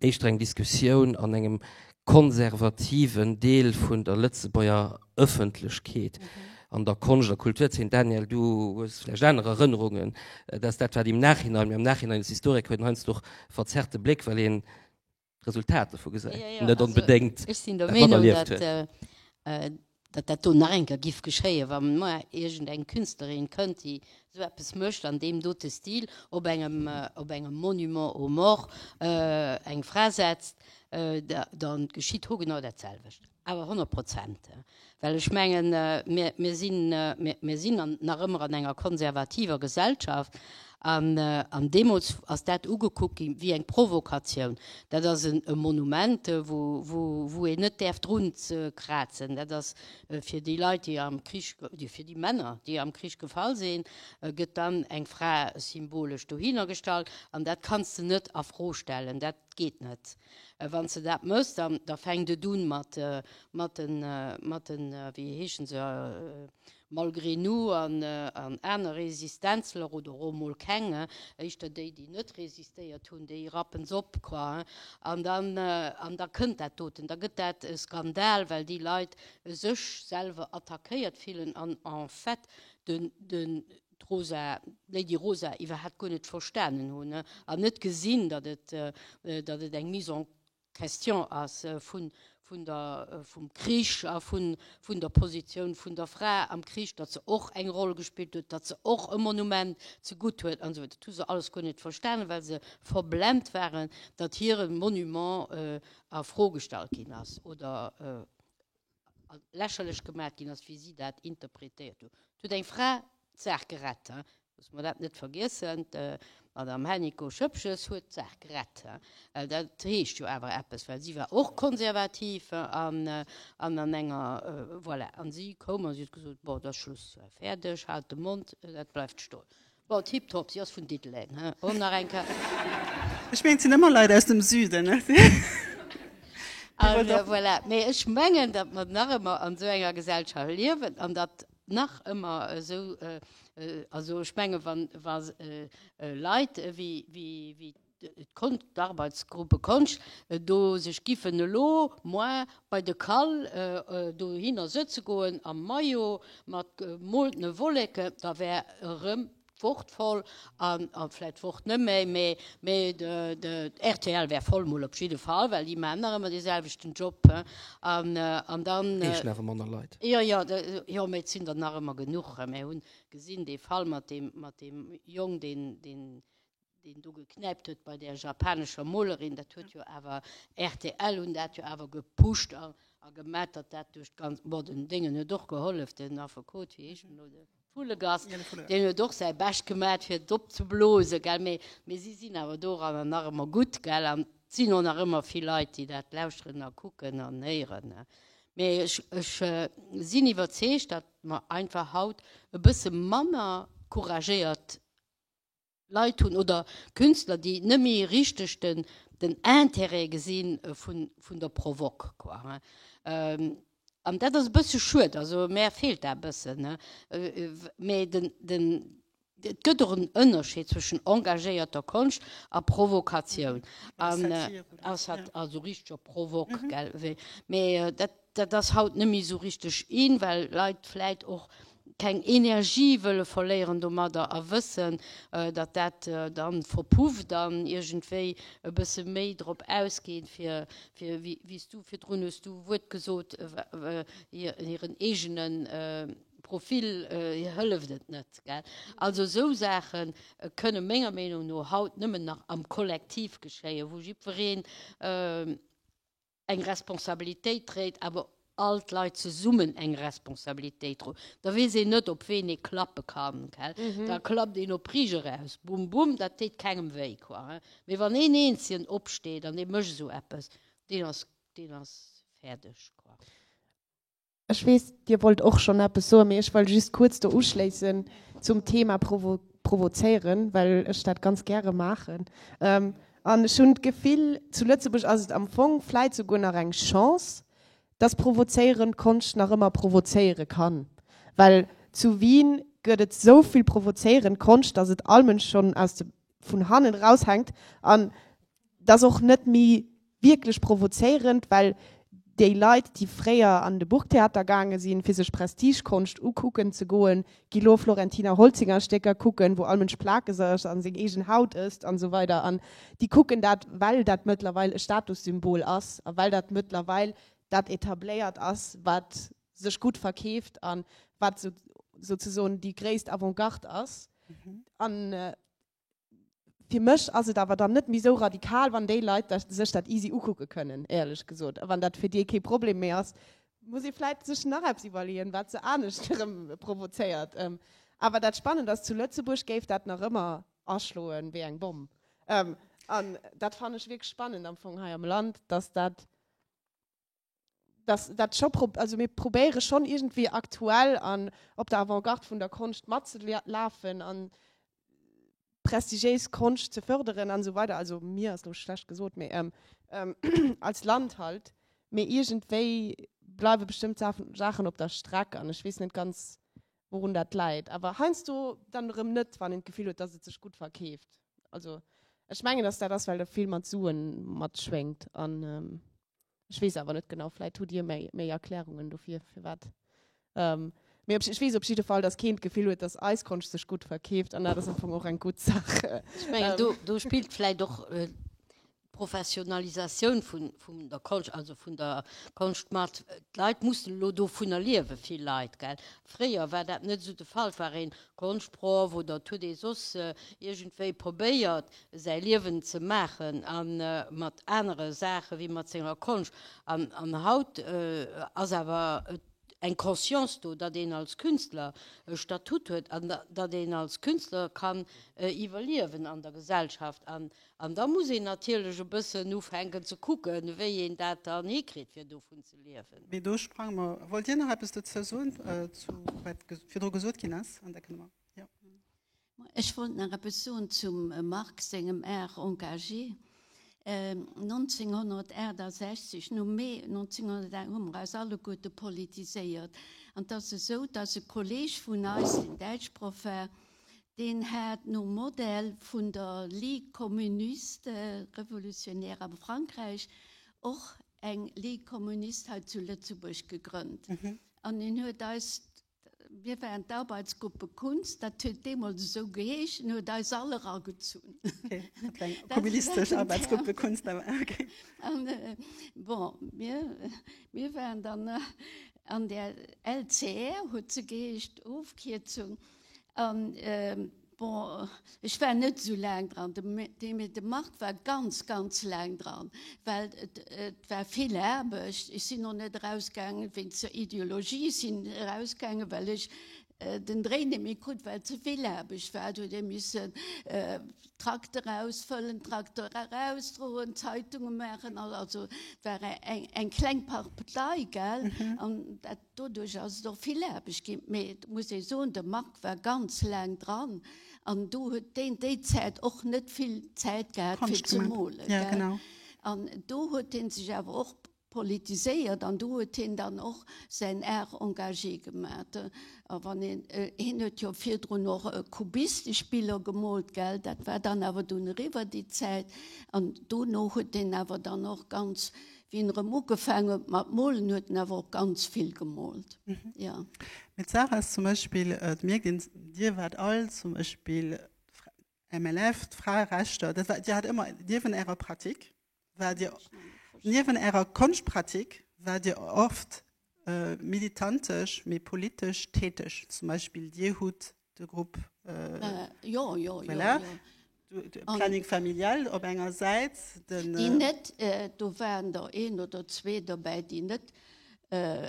éischter eng Diskussioun an engem konservativen Deel vun der Lëtzebuerger Ëffentlechkeet an der Konscht a Kulturzeen. Daniel, du hues vläicht aner Erënnerungen. Et ass dat, wat im Nachhinein, mir am Nachhinein als Historiker huet een heiansdo och e verzerrte Bléck, well een d'Resultat dovu gesäit, net onbedéngt dat materlieft huet. Datt dat do nach eng Kéier giff geschéien, wa mar iergend eng Künstlerin kënnt, déi esou eppes mécht an deem dote Stil, op engem, op engem Monument aux morts eng Fra setzt, da, da geschitt ho genau dat selwecht. Awer honnert Prozent. Well ech mengen, mir, mir sinn, mir, mir sinn nach ëmmer an enger konservativer Gesellschaft. An deemools ass dat ugekuckt ginn wéi eng Provokatioun. Dat ass e Monument, wou een net däerf drun krazen. Dat ass fir déi Leit, déi am Krich, fir déi Männer, déi am Krich gefall sinn, gëtt dann eng Fra symbolesch dohinner gestallt. An dat kanns de net a Fro stellen. Dat geet net. Wann s de dat méchs, da fänkt et un mat de, wéi heeschen se, Malgré nu an aner Resistenzler, oder och mol keng, éischter déi déi net resistéiert hunn, déi rappen s'op quoi. An dann an da kënnt dat doten, da gëtt dat e Skandal, well déi Leit sech selwer attackéiert fillen an en fait den den d'Rosa, d'Lady Rosa iwwerhat guer net verstanen hunn an net gesinn, datt et datt et eng Mise en D'Question ass vum Krich a vun der Positioun vun der Fra am Krich, datt se och eng Roll gespillt huet, datt se och e Monument zegutt huet an esou weider. Dat hu se alles guer net verstanen, well se verblent waren, datt hire Monument a Fro gestallt ginn ass oder lächerlech gemaat gin ass wéi si daat interprétéiert hun. Et huet eng Fra d'Saach gerett, loosse mer daat net vergiessen, d'Madame Hennicot Schëppges huet d'Saach gerett. Daat heescht jo awer eppes, well si war och konservativ an an enger, voilà, an si koum an si huet gesoot, Bon, et ass Schluss, fäerdeg, haalt de Mond, daat bleiwt stoen. Bon, tiptop, si ass vun Diddeleng, hä? Bon, nach eng Kéier. Ech mengen, et sinn ëmmer Leit aus dem Süden. An voilà. Mee ech mengen, datt mer nach ëmmer an esou enger Gesellschaft liewen an datt nach ëmmer esou, also ech menge wa Leit ewéi d'Arbeitsgruppe Konscht do sech giffen elo moi bei de Kall dohinner sëtze goen am Maillot mat gemoltene Wolleke, da wär erëm d'Wort voll an vläit d'Wort net méi, mee mee d'RTL wär voll mol op jidde Fall, well déi maachen nach ëmmer dee selwechten Job, he, an dann. Heeschen awer manner Leit. Jo, jo, jo, mee et sinn der nach ëmmer genuch. Mä hunn gesinn dee Fall mat deem Jong, deen, deen deen do geknäipt huet bei där japanescher Molerin, dat huet jo awer, rtl hunn dat jo awer gepusht a gemat, datt dat duerch d'ganz, bon den Déngen huet och gehollef, den Affekot, wéi heescht en elo, de Vullegas, deen huet och säi Bescht gemat fir et opzeblosen, gell, mee mee si sinn awer doranner nach ëmmer gutt, gell, an et sinn och nach ëmmer vill Leit, déi dat lauschteren a kucken an héieren, ne. Mee ech, ech sinn iwwerzeegt, datt mer einfach haut e bësse manner couragéiert Leit hunn oder Künstler, déi net méi richteg den den Intérêt gesi vun vun der Provoque, quoi, hein. An dat ass e bësse schued, also mär feelt dat e bëssen, hein. Mee den den et gëtt och en Ënnerscheed zwëschen engagéierter Konscht a Provokatioun, an a Sat also richteger Provoque, gell, mee dat. Dat ass haut net méi esou richteg in, well Leit vläit och keng Energie wëlle verléieren domadder a wëssen, datt dat dann verpufft an iergendwéi e bësse méi drop ausgeet, fir, wéi s du virdrun hues du e Wuert gesot, hiren eegene Profil, hir hëlleft et net. Also esou Saache kënne menger Meenung no haut nëmmen nach am Kollektiv geschéien, wou jiddwereen, eng Responsabilitéit dréit, awer all d'Leit zesummen eng Responsabilitéit dro, da weess een net, op ween ee klappe kann. Da klappt een op Rich eraus, bum, bum, dat deet kengem wéi. Mee wann een Eenzelen opsteet an dee mécht esou eppes, deen ass fäerdeg. Ech weess, Dir wollt och schonn eppes soen, mee ech wëll just kuerz do uschléissen zum Thema provozéieren, well ech dat ganz gäre maachen. An ech hunn d'Gefill, zu Lëtzebuerg ass et am Fong vläit souguer nach eng Chance, dass provozéierend Konscht nach ëmmer provozéiere kann. Well zu Wien gëtt et esou vill provozéierend Konscht, dass et allmënsch schonn aus de vun hannen eraus hänkt. An Et ass och net méi wierklech provozéierend, well déi Leit, déi fréier an de Burgtheater gaange sinn, fir sech Prestigekonscht ukucken ze goen, gi lo Florentina Holzinger Stécker kucken, wou all Mënsch plakeg ass a seng eegen Haut ësst an esou weider. An déi kucken dat, well dat mëttlerweil e Statussymbol ass a well dat mëttlerweil dat Etabléiert ass, wat sech gutt verkeeft a wat souzesoen déi gréisst Avant-Garde ass. fir mech ass et awer dann net méi esou radikal, wann déi Leit dat sech dat easy ukucke kënnen, éierlech gesot. A wann dat fir déi kee Problem méi ass, muss ee vläit sech nach eppes iwwerleeën, wat se anescht erëm provozéiert. Awer dat Spannend ass, zu Lëtzebuerg géif dat nach ëmmer aschloe wéi eng Bomm. An dat fannen ech wierklech spannend am Fong hei am Land, dass dat, dass dat scho prob also mir probéiere schonn irgendwie aktuell an op der Avantgarde vun der Konscht matzelafen an prestigiéis Konscht ze förderen an esou weider. Also mir ass elo schlecht gesot, mee ähm ähm als Land halt. Mee iergendwéi bleiwe bestëmmt Sa Saachen op der Streck an ech weess net ganz wourun dat läit. Awer heiansdo dann erëm net, wann een d'Gefill huet, dass et sech gutt verkeeft. Also ech mengen, dass dat ass, well do vill mat Suen matschwéngt an ähm. Ech weess awer net genau, vläit hutt Dir méi, méi Erklärungen dofir, firwat. Ähm, mee op, ech weess op jidde Fall, dass keen d'Gefill huet, dass eis Konscht sech gutt verkeeft, an dat ass am Fong och eng gutt Saach. Ech mengen, do, do spillt vläit och d'Professionalisatioun vun, vun der Konscht, also vun der Konscht mat. D'Leit mussen elo dovunner liewen, vill Leit, gell. Fréier war dat net esou de Fall, war een Konschtproff oder et huet ee soss iergendwéi probéiert, säi Liewen ze maachen a mat anere Saache wéi mat senger Konscht. An haut ass awer eng Conscience do, datt een als Künstler e Statut huet an datt een als Künstler kann iwwerliewen an der Gesellschaft. An da muss een natierlech e bëssen ufänken ze kucken, wéi een dat dann hikritt, fir dovun ze liewen. Mee do sprange mer. Wollt Dir nach eppes dozou soen, zu wat virdru gesot ginn ass? Ech wollt nach eppes soen zum Marc sengem Art engagé. 1968, nom Mee 1968, hu mer eis alleguerte politiséiert. An et ass esou, dass e Kolleeg vun eis, deen Däitschproff war, deen hat nom Modell vun der Ligue communiste révolutionnaire a Frankräich och eng Ligue communiste hei zu Lëtzebuerg gegrënnt. An en huet eis Mir waren d'Arbeitsgruppe Kunst, dat huet deemools esou geheeschen, huet eis all eragezunn. Okay, dat war eng kommunistesch Arbeitsgruppe Kunst awer, okay. An bon, mir, mir waren dann an där LCR, huet se geheescht, Ofkierzung. An Bon, ech war net esou laang dran, mee de Marc war ganz, ganz laang dran, well et war vill Aarbecht. Ech sinn och net erausgaangen wéinst der Ideologie, ech sinn erausgaangen, well ech den Dréi net méi krut, well et ze vill Aarbecht war. Et huet ee missen Trakter ausfëllen, Trakter erausdroen, Zeitunge maachen, also et war eng kleng Partei, gell. Doduerch ass et och vill Aarbecht ginn. Mee et muss ee soen, de Marc war ganz laang dran an do huet deen déi Zäit och net vill Zäit gehat fir ze molen, gell. An do huet hie sech awer och politiséiert an do huet hien dann och säin Art engagé gemat. A wann een, hien huet jo virdrun och kubistesch Biller gemoolt, gell, dat war dann awer dunn eriwwer déi Zäit. An dono huet hien awer dann och ganz Wéi en erëm ugefaangen huet mat molen, huet en awer och ganz vill gemolt, jo. Mee d'Saach ass zum Beispill, et mierkt een, Dir waart all zum Beispill MLF, d'Fraerechter, dat war, Dir hat ëmmer niewent Ärer Pratik, waart Dir, niewent Ärer Konschtpratik waart Dir oft militantesch, mee politesch täteg. Zum Beispill Dir hutt de Grupp Planning Familial op enger Säit, den. Déi net, do waren der een oder zwee dobäi, déi net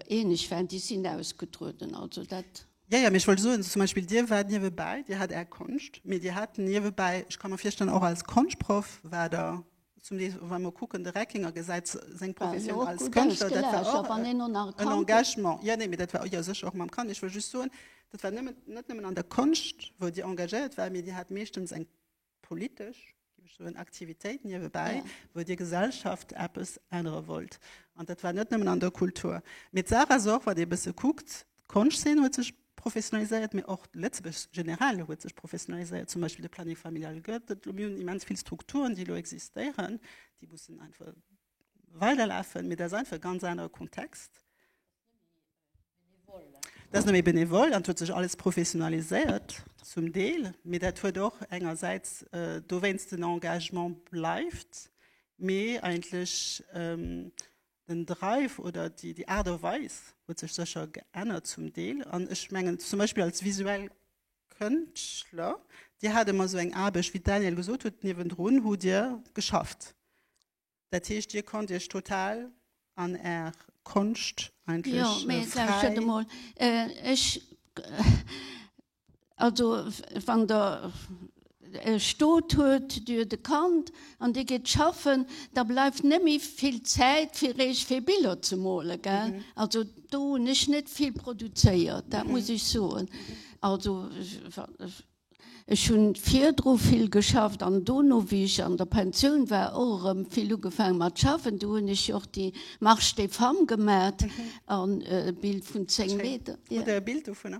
eeneg waren, déi sinn ausgetrueden. Also dat. Jo, jo, mee ech wollt soen, zum Beispill Dir waart niewebäi, Dir hat Är Konscht, mee Dir hat niewebäi, ech ka mer virstellen, och als Konschtproff war der Zum Deel, wa mer kucken, de Reckinger gesäit seng Professioun als Kënschtler, dat war och en Engagement. Jo, nee, mee dat war, jo sécher, och mam Kand. Ech wëll just soen, dat war nëmmen, net nëmmen an der Konscht, wou Dir engagéiert war, mee Dir hat meeschtens eng politesch, géif ech soen, Aktivitéit niewebäi, wou Dir Gesellschaft eppes ännere wollt. An dat war net nëmmen an der Kultur. Mee d'Sarah ass och, wann ee e bësse kuckt, d'Konschtzeen huet sech, Professionaliséiert, mee och Lëtzebuerg generell huet sech professionaliséiert. Zum Beispill de Planning familial gëtt et elo. Mir hunn immens vill Strukturen, déi elo existéieren, déi mussen einfach weiderlafen. Mee dat ass einfach e ganz anere Kontext. Dat ass net méi benevol. Dat huet sech alles professionaliséiert, zum Deel. Mee dat huet och engersäits dowéinst den Engagement bleift, mee eigentlech den Drive oder déi, déi Aart a Weis huet sech sécher geännert zum Deel. An ech mengen zum Beispill als visuell Kënschtler, Dir hat ëmmer esou eng Aarbecht, wéi d'Danielle gesot huet, niewendrun hutt Dir geschafft. Dat heescht, Dir konnt Iech total an Är Konscht eigentlech fräi. Jo, mee lauschtert emol, ech, Also wann Der e Stot huet, dee huet e Kand an dee geet schaffen, da bleift net méi vill Zäit fir eech fir Biller ze mole, gell. Also do hunn ech net vill produzéiert, dat muss ech soen. Also ech hunn virdru vill geschafft an dono, wéi ech an der Pensioun war, och erëm vill ugefaangen mat schaffen. Do hunn ech jo och déi Marche des femmes gemat an e Bild vun 10 Meter. Hutt Der e Bild dovunner?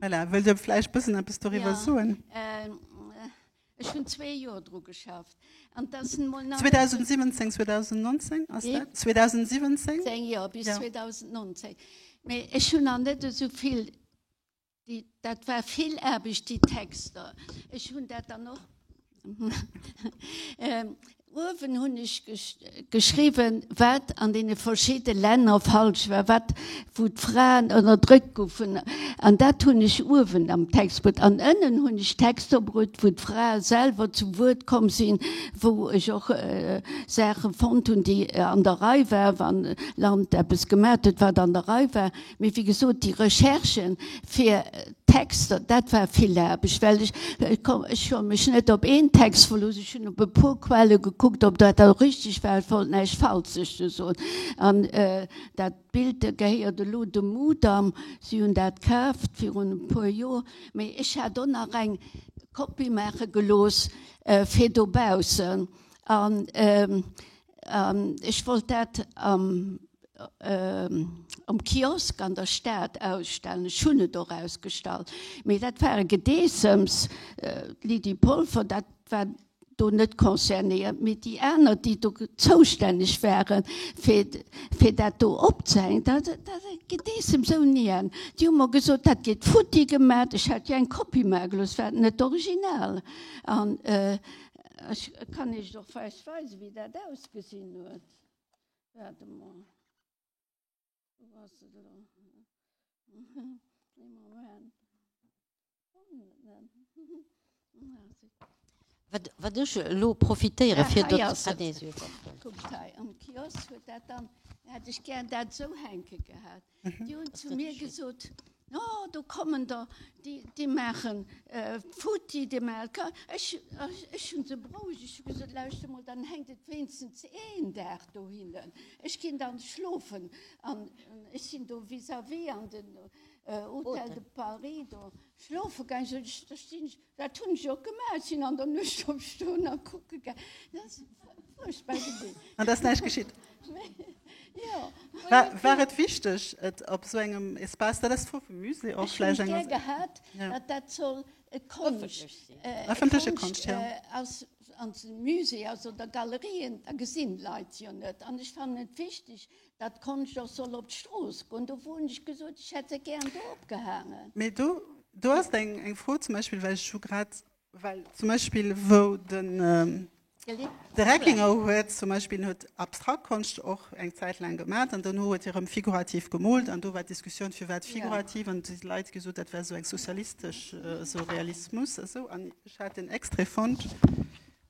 Voilà, wëllt Dir vläicht bëssen eppes doriwwer soen? Jo, ech hunn zwee Joer dru geschafft an dat ass nun emol nach. 2017, 2019 ass dat? Wéi? 2017? 17, jo, bis 2019. Mee ech hunn nach net esou vill, déi, dat war vill Aarbecht, déi Texter. Ech hunn dat dann och. Uewen hunn ech geschriwwen, wat an deene verschidde Länner falsch war, wat, wou d'Fraen ënnerdrückt goufen. An dat hunn ech uewen am Text bruet. An ënnen hunn ech Texter bruet, wou d'Frae selwer zu Wuert komm sinn, wou ech och Saache fonnt hunn, déi an der Rei war, wa Land eppes gemat huet, wat an der Rei war. Mee wéi gesot, déi Recherchen, fir Texter, dat war vill Aarbecht, well ech, ech hu mech net op een Text verlooss, ech hunn op e puer Quelle gekuckt, ob dat elo richteg war, ech wollt näischt Falsches do soen. An dat Bild gehéiert elo dem Mudam, si hunn dat kaaft virun e puer Joer. Mee ech hat och nach eng Kopie maache gelooss fir dobaussen. Ech wollt dat am um Kiosk an der Stad ausstellen. Ech hunn et och ausgestallt, mee dat war e Gedeessems. D'Lydie Polfer, dat war do net concernéiert, mee déi aner, déi do zoustänneg ware fir fir dat do opzehängen, dat war e Gedeessems ouni Enn. Déi hu mer gesot, dat gétt futti gemat. Ech hat jo eng Kopie maache gelooss, war net original. Ech kann Iech och vläicht weisen, wéi dat ausgesinn huet. Waart emol. Wou ass et elo? Ee Moment. Fannen et net. Ah, zit. Wat, wat ech elo profitéiere fir. Ah, hei ass et. Kuckt hei. Am Kiosk huet dat dann, hätt ech gär dat esou hänke gehat. Déi hunn zu mir gesot, O, do kommen der, déi maachen futti de MLK. Ech hu se berouegt, ech hu gesot, Lauschter mol, dann hänkt et wéinstens een Dag dohinnen, ech ginn dann schlofen. An ech sinn do vis-à-vis an den Hôtel de Paris do schlofe gaangen. Da stinn ech. Dat hunn ech och gemaach, ech sinn an der Nuecht opstoen a kucke gaang. Dat ass fuerchtbar gewesen. An et ass näischt geschitt? Jo. War et wichteg, et op esou engem Espace, dat ass d'Fro vum Musée och vläicht, eng. Ech hunn et gär gehat, datt dat soll e Konscht. Ëffentlech sinn. Konscht ass. An de Musée, also der Galerien, da gesinn d'Leit jo net. An ech fannen et wichteg, Dat konnt ech och soll op d'Strooss goen. Do wou hunn ech gesot, ech hätt se gären do opgehaangen. Mee do, do ass eng, eng Fro zum Beispill, well ech hu grad, well zum Beispill wou den. De Reckinger huet zum Beispill, en huet abstrakt Konscht och eng Zäit laang gemat an duerno huet hie rëm figurativ gemoolt an do war d'Diskussioun, firwat figurativ? An si Leit gesot, dat wär esou eng sozialistesch, esou Realismus esou. An ech hat en Extrait fonnt.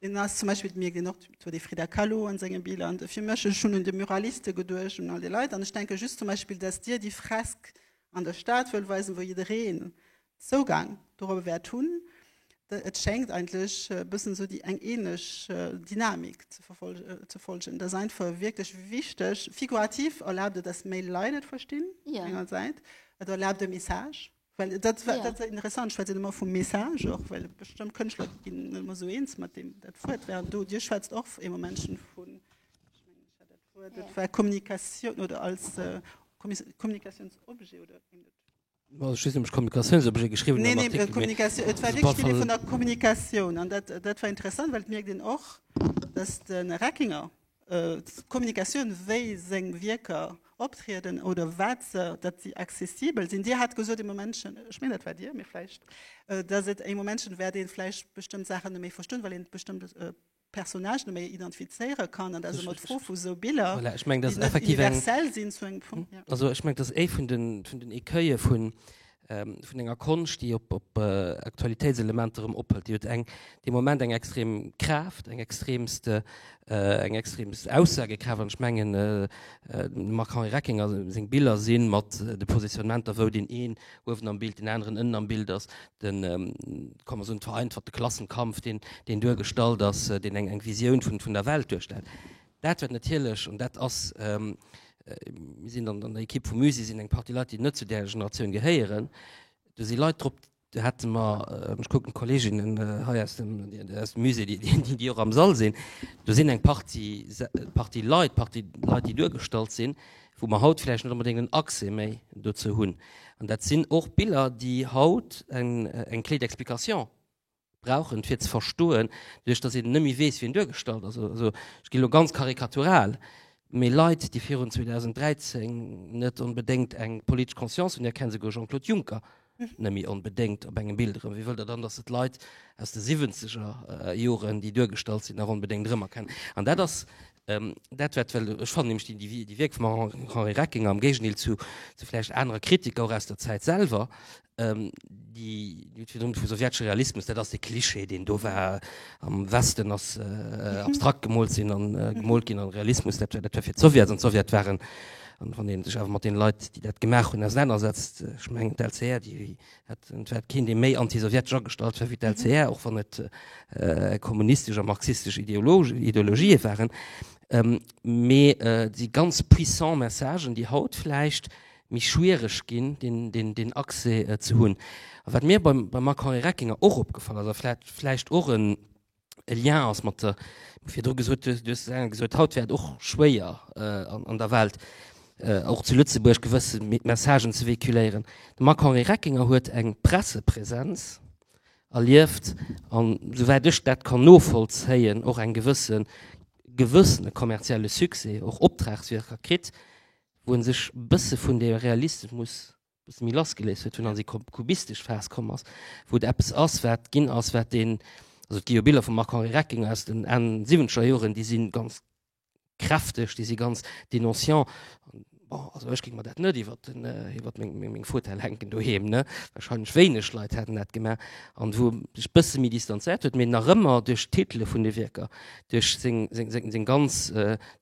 Hien ass zum Beispill, dat mierkt een och to, de Frida Kahlo an senge Biller. An fir mech, ech hunn un de Muraliste geduecht, un all déi Leit. An ech denke just zum Beispill, dass Dir déi Fresk an der Stad wëllt weisen, wou jiddereen Zougang dorobber wäert hunn, da et schéngt eigentlech e bëssen esou déi eng ähnlech Dynamik ze verfolgen, ze folgen. Et ass einfach wierklech wichteg, figurativ erlaabt et, dass méi Leit et verstinn, engersäits, et erlaabt e Message. Well dat war, dat war interessant, schwätzen ëmmer vum Message och, well bestëmmt Kënschtler ginn net ëmmer esou eens mat deem, dat Wuert während do, Dir schwätzt och ee Moment schonn vun, ech mengen ech hat dat Wuert, dat war Kommunikatioun oder als Kommunikatiounsobjet oder wéi dat. Mä ech weess net, ob ech Kommunikatiounsobjet geschriwwen hunn am Artikel, mee. Neen, neen, et war wierklech d'Iddi vun der Kommunikatioun an dat, dat war interessant, well et mierkt een och, datt de Reckinger Kommunikatioun, wéi seng Wierker optrieden oder wat se, datt si accessibel sinn. Dir hat gesot ee Momentchen, ech mengen dat war Dir, mee vläicht, datt et ee Momentchen wäert ee vläicht bestëmmt Saachen net méi verstoen, well een bestëmmte Personnage net méi identifizéiere kann. An dat ass ëmmer d'Fro vu sou Biller, déi net universell sinn zu engem Punkt. Voilà, ech mengen dat ass effektiv eng, also ech mengen dat ass ee vun den Écueillen vun vun enger Konscht, déi op Aktualitéitselementer erëm ophëlt. Déi huet eng, dee Moment eng extrem Kraaft, eng extremst, eng extremst Aussagekraaft. An ech mengen, dem Marc-Henri Reckinger seng Biller si mat de Positionnementer, wou deen een uewen am Bild, deen aneren ënnen am Bild ass, de, ka mer soen, vereinfachte Klassenkampf, deen duergestallt ass, deen eng Visioun vun der Welt duerstellt, Dat wat natierlech, an dat ass, mir sinn an der Ekipp vum Musée sinn eng Partie Leit, déi net zu där Generatioun gehéieren, do si Leit drop, do hätte mer, ech kucken d'Kolleeginnen hei aus dem Musée, déi och am Sall sinn, do sinn eng Partie, Partie Leit, Partie Leit, déi duergestallt sinn, wou mer haut vläicht net onbedéngt en Accès méi dozou hunn. An dat sinn och Biller, déi haut eng clé d'explication brauchen fir ze verstoen, doduerch datt een net méi weess wien duergestallt ass, also ech ginn elo ganz karikatural, mee Leit déi virun 2013 net onbedéngt eng politesch Conscience hunn, erkennt esouguer Jean-Claude Juncker net méi onbedéngt op engem Bild erëm, wéi wëllt Der dann datt se d'Leit aus de siwwenzeger Joren déi duergestallt sinn nach onbedéngt erëm erkennen? An dat ass Ähm, dat wat well ech fan nämlich die, die, die Wirk vum Henri Reckinger am Géigendeel zu, zu vielleicht anere Kritiker auch aus der Zeit selber ähm, die, die vum sowjetesche Realismus dat ass de Klischee den do war am Westen ass äh, mhm. abstrakt gemolt sinn an äh, mhm. gemolt ginn an Realismus dat war fir Sowjet an Sowjet waren an wann den sech awer mat den Leiit die dat gemacht hun auseinandersetzt äh, ich meng LCR die Et wäert keen, dee méi antisowjetesch agestallt war wéi d'LCR, och wann et kommunistesch a marxistesch Ideologië waren. Mee déi ganz puissant Messagen, déi haut vläicht méi schwiereg ginn, deen Accès ze hunn. A wat mir beim Macron-Reckinger och opgefall ass, a vläicht och e e Lien ass mat der, virdru gesot, du hues et eng gesot, haut wär et och schwéier an der Welt, och zu Lëtzebuerg gewësse Messagen ze véhiculéieren. De Marc-Henri Reckinger huet eng Pressepresenz erlieft an, souwäit ech dat kann novollzéien, och eng gewësse gewëssene kommerzielle Succès, och Optragswierker kritt, wou e sech e bësse vun deem Realismus muss bësse méi lass geléist huet hunn, an déi kubistesch Phas komm ass, wou et eppes ass, wat ginn ass, wat deen, also et gi jo Biller vum Marc-Henri Recking aus den Enn siwwenzeger Joren, déi si ganz kräfteg, déi si ganz dénonciant. Bon, also ech géing mer dat net iwwer den, iwwer meng, meng Fauteuil hänken doheem, ne. Wahrscheinlech wéineg Leit hätten dat gemaach. An wou e sech bësse méi distanzéiert huet, mee nach ëmmer duerch d'Titele vun de Wierker, duerch seng, seng, seng ganz,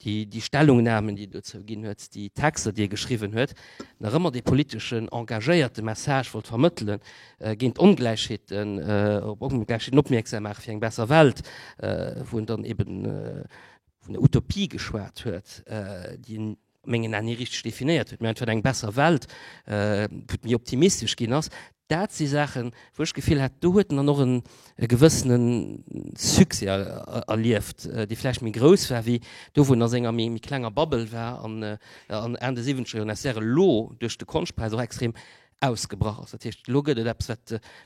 déi, déi Stellungnamen, déi e dozou ginn huet, déi Texter, déi e geschriwwen huet, nach ëmmer dee politeschen, engagéierte Message wollt vermëttelen, géint d'Ongläichheeten, op Ongläichheeten opmierksam maachen, fir eng besser Welt, wou en dann eben vun der Utopie geschwat huet, déi en a mengen Ae ni richteg definéiert huet, mä einfach eng besser Welt, wou et méi optimistesch ginn ass, Dat si Saachen, wou ech d'Gefill hat, do huet en dann och e gewëssene Succès erlieft, dee vläicht méi grouss war wéi do, wou en a senger méi klenger Bubble war an Enn de Siwwenzeger Joren ass, während elo duerch de Konschtpräis och extrem ausgebrach ass. Dat heescht, elo gëtt et eppes,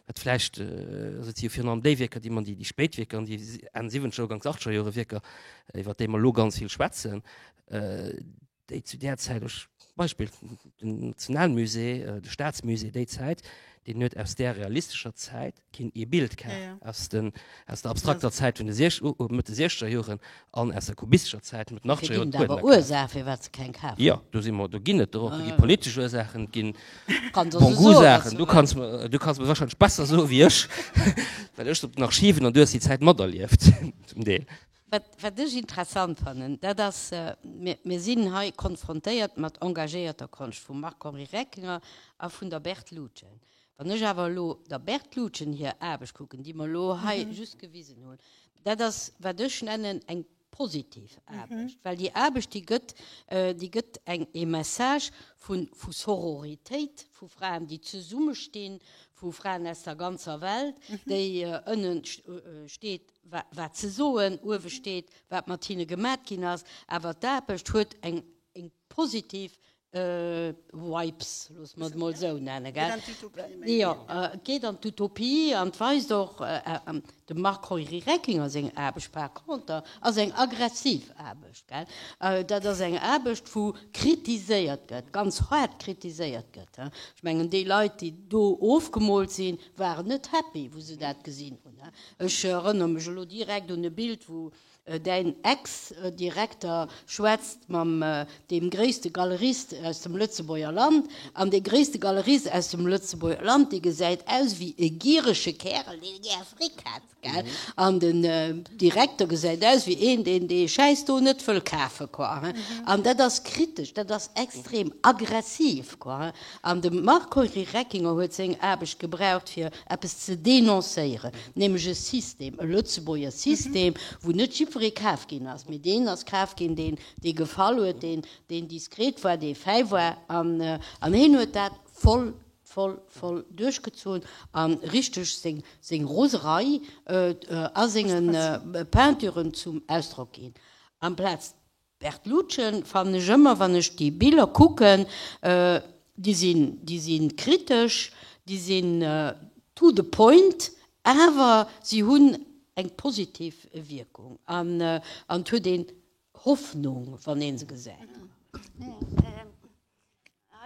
wat vläicht, also et si jo virun allem déi Wierker, déi mer, déi spéit Wierker an déi Enn-Siwwenzeger-Ugangs-Achteger-Jore-Wierker, iwwert déi mer elo ganz vill schwätzen, déi zu där Zäit, ech Beispill den Nationalmusée, de Staatsmusée déi Zäit, deen huet aus där realistescher Zäit keen ee Bild ka, aus den aus der abstrakter Zäit vun de siech Mëtt de siechzeger Joren an aus der kubistischer Zäit Mëtt den achtzeger Joren. Et ginn awer Ursache firwat se keng kafen. Jo, do si mer, do ginn et der och. Et gi politesch Ursachen, et ginn Bon-Goût-Saachen. Du kanns mer, du kanns mer wahrscheinlech besser soe wéi ech, well ech op den Archiven an du hues déi Zäit materlieft zum Deel. Wat ech interessant fannen, dat ass, mir sinn hei konfrontéiert mat engagéierter Konscht vum Marc-Henri Reckinger a vun der Berthe Lutgen. Wann ech awer elo der Berthe Lutgen hir Aarbecht kucken, déi mer elo hei just gewisen hunn, dat ass, wat ech nennen eng positiv Aarbecht. Well déi Aarbecht, déi gëtt, déi gëtt eng, ee Message vu Sororitéit, vu Fraen, déi zesummestinn, vu Fraen aus der ganzer Welt, déi ënnen steet, wat ze soen uewe steet, wat mat hinne gemat ginn ass, awer d'Aarbecht huet eng positiv Vibes, loosse mer et emol esou nennen, gell. Jo, geet an d'Utopie an et weist och dem Marc Heury-Reckinger seng Aarbecht. Par conter ass eng aggressiv Aarbecht, gell. Dat ass eng Aarbecht, wou kritiséiert gëtt, ganz haart kritiséiert gëtt. Ech mengen, déi Leit, déi do ofgemoolt sinn, waren net happy, wou se dat gesinn hunn. Ech erënnere mech elo direkt un e Bild, wou Däin Ex-Direkter schwätzt mam deem gréisste Galerist aus dem Lëtzebuerger Land. An dee gréisste Galerist aus dem Lëtzebuerger Land, dee gesäit aus wéi e gierege Kärel, deen gär Fric hätt, gell? An den Direkter gesäit aus wéi een, deen dee Schäiss do net wëll kafen, quoi, hein? An dat ass kritesch, dat ass extrem aggressiv, quoi, hein? An de Marco Reckinger huet seng Aarbecht gebraucht fir eppes ze denoncéieren, nämlech e System, e Lëtzebuerger System, wou net jiddweree kaf ginn ass, mee deen ass kaf ginn, deen dee gefall huet, deen deen diskret war, dee fäi war. An hien huet dat voll, voll, voll duerchgezunn a richteg seng seng Roserei a senge Peinturen zum Ausdrock ginn, amplaz Bertlucen fannen ech ëmmer, wann ech déi Biller kucken, déi sinn, déi si kritesch, déi sinn to the point, awer si hunn eng positiv Wierkung an et huet een Hoffnung, wann ee se gesäit.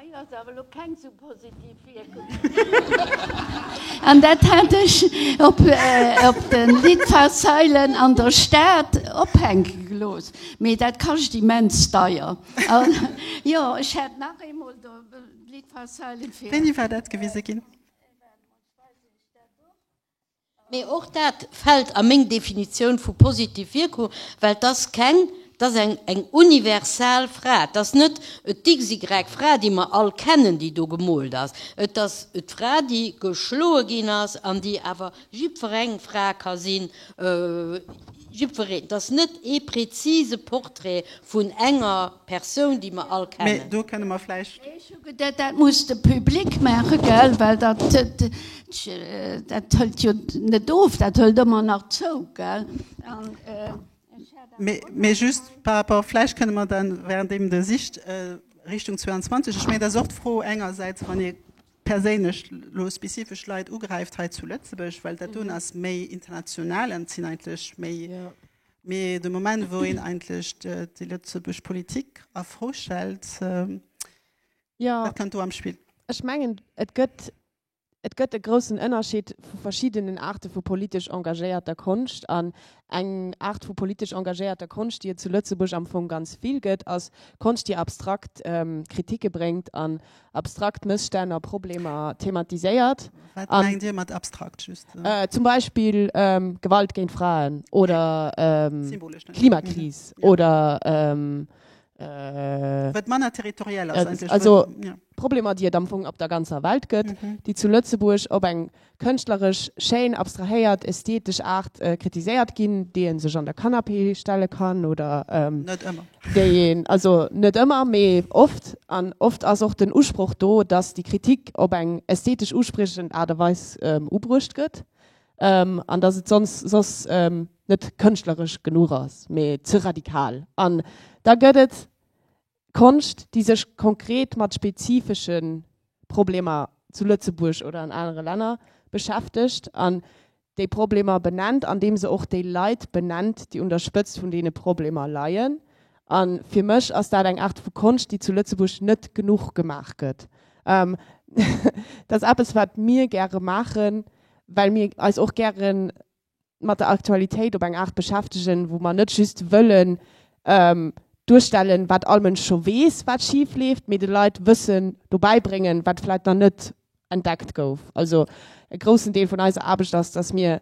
Hei ass awer elo keng sou positiv Wierkung. An dat hat ech op de Litfaßseilen an der Stad ophänke gelooss. Mee dat kascht immens deier. Jo, ech hätt nach eemol do d'Litfaßseilen fir. Wéini war dat gewise ginn? Mee och dat fält a meng Definitioun vu positiv Wierkung, well t'ass keng, t'ass eng, eng universal Fra. T'ass net d'XY. Fra, déi mer all kennen, déi do gemoolt ass. Et ass d'Fra, déi geschloe ginn ass an déi awer jiddwereng Fra ka sinn, jiddwereen. T'ass net ee prezise Portrait vun enger. Persoun, déi mer all kennen. Mee do kënne mer vläicht. Mee ech hu geduet, dat muss de Public maachen, gell? Well dat, dat hëlt jo net of, dat hëlt ëmmer nach zou, gell? An ech hat awer och. Mee just par rapport, vläicht kënne mer dann, währenddem Der sicht, Richtung 22, ech mengen, dat ass och d'Fro engersäits, wann ee perséinlech elo spezifesch Leit ugräift hei zu Lëtzebuerg, well dat doen ass méi international an et sinn eigentlech méi. Mee de Moment, wou een eigentlech déi lëtzebuerg Politik a Fro stellt, wat kënnt do am Spill? Ech mengen, et gëtt, et gëtt e groussen Ënnerschied vu verschiddenen Aarte vu politesch engagéierter Konscht. An eng Aart vu politesch engagéierter Konscht, déi et zu Lëtzebuerg am Fong ganz vill gëtt, ass Konscht, déi abstrakt Kritike bréngt an abstrakt Mësstänn a Problemer thematiséiert. Wat mengt Dir mat abstrakt just? Zum Beispill Gewalt géint Fraen oder Klimakris oder Problemer, déi et am Fong op der ganzer Welt gëtt, déi zu Lëtzebuerg op eng Kënschtleresch schéin, abstrahéiert, ästhetesch Art kritiséiert ginn, déi ee sech an der Canapé stelle kann oder déi een, also net ëmmer, mee oft, an oft ass och den Usproch do, datt déi Kritik op eng ästhetesch uspriechend Aart a Weis ubruecht gëtt an datt et soss soss net kënschtleresch genuch ass, mee ze radikal. An da gëtt et Konscht, déi sech konkret mat spezifesche Problemer zu Lëtzebuerg oder an anere Länner beschäftegt an déi Problemer benennt, andeem se och déi Leit benennt, déi un der Spëtzt vun deene Problemer leien. A fir mech ass dat eng Aart vu Konscht, déi zu Lëtzebuerg net genuch gemaach gëtt. Dat ass eppes, wat mir gäre maachen, well mir eis och gären mat der Aktualitéit op eng Aart beschäftegen, wou mer net just wëllen duerstellen, wat all Mënsch scho weess, wat schif leeft, mee de Leit Wëssen dobäi bréngen, wat vläicht nach net entdeckt gouf. Also e groussen Deel vun eiser Aarbecht ass, dass mir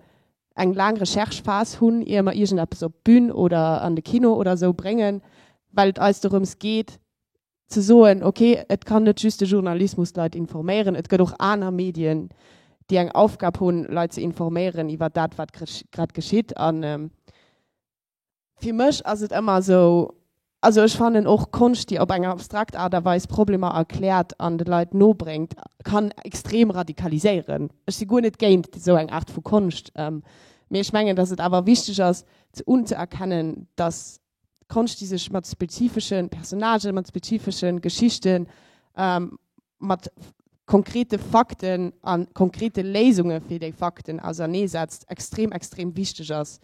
eng laang Recherche-Phas hunn, ier mer iergendeppes op d'Bün oder an de Kino oder esou bréngen, well et eis dorëms geet, ze soen, ok, et kann net just de Journalismus d'Leit informéieren, et gëtt och aner Medien, déi eng Aufgab hunn, Leit ze informéieren iwwer dat, wat grad geschitt. An fir mech ass et ëmmer esou, also ech fannen och Konscht, déi op eng abstrakt Aart a Weis Problemer erkläert an de Leit nobréngt, kann extrem radikaliséieren. Ech si guer net géint esou eng Aart vu Konscht, mee ech mengen, datt et awer wichteg ass, ze unzëerkennen, datt D'Konscht déi sech mat spezifesche Personnagen, mat spezifesche Geschichten, mat konkrete Fakten a konkrete Léisunge fir déi Fakten auserneesetzt, extrem extrem wichteg ass.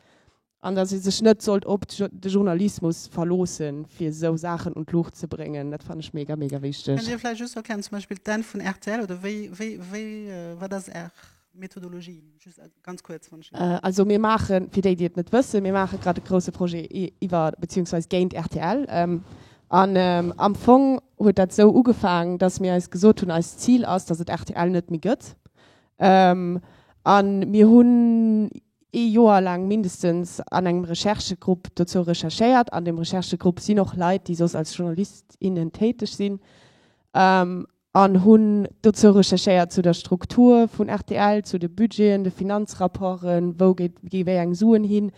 An datt ee sech net sollt op de Journalismus verloosse fir esou Saachen un d'Luucht ze bréngen, dat fannen ech mega mega wichteg. Kënnt Dir vläicht just erklären zum Beispill d'Enn vun rtl oder wéi, wéi, wéi, wat ass Är. Methodologie, just äh, ganz kurz. Wann ich äh, also mir machen, für die, die es nicht wissen, wir machen gerade einen großen Projet über, beziehungsweise gegen RTL. Ähm, an ähm, am Fong hat das so angefangen, dass wir uns gesagt haben, als Ziel ist, dass es RTL nicht mehr gibt. Ähm, an wir haben e Joer lang mindestens an engem Recherchegrupp dazu recherchiert. An dem Recherchegrupp sind auch Leute, die sos als JournalistInnen tätig sind. Ähm, an hunn dozou recherchéiert, zu der Struktur vun rtl, zu de Budgeten, de Finanzrapporten, wou geet gi wéi eng Suen hin,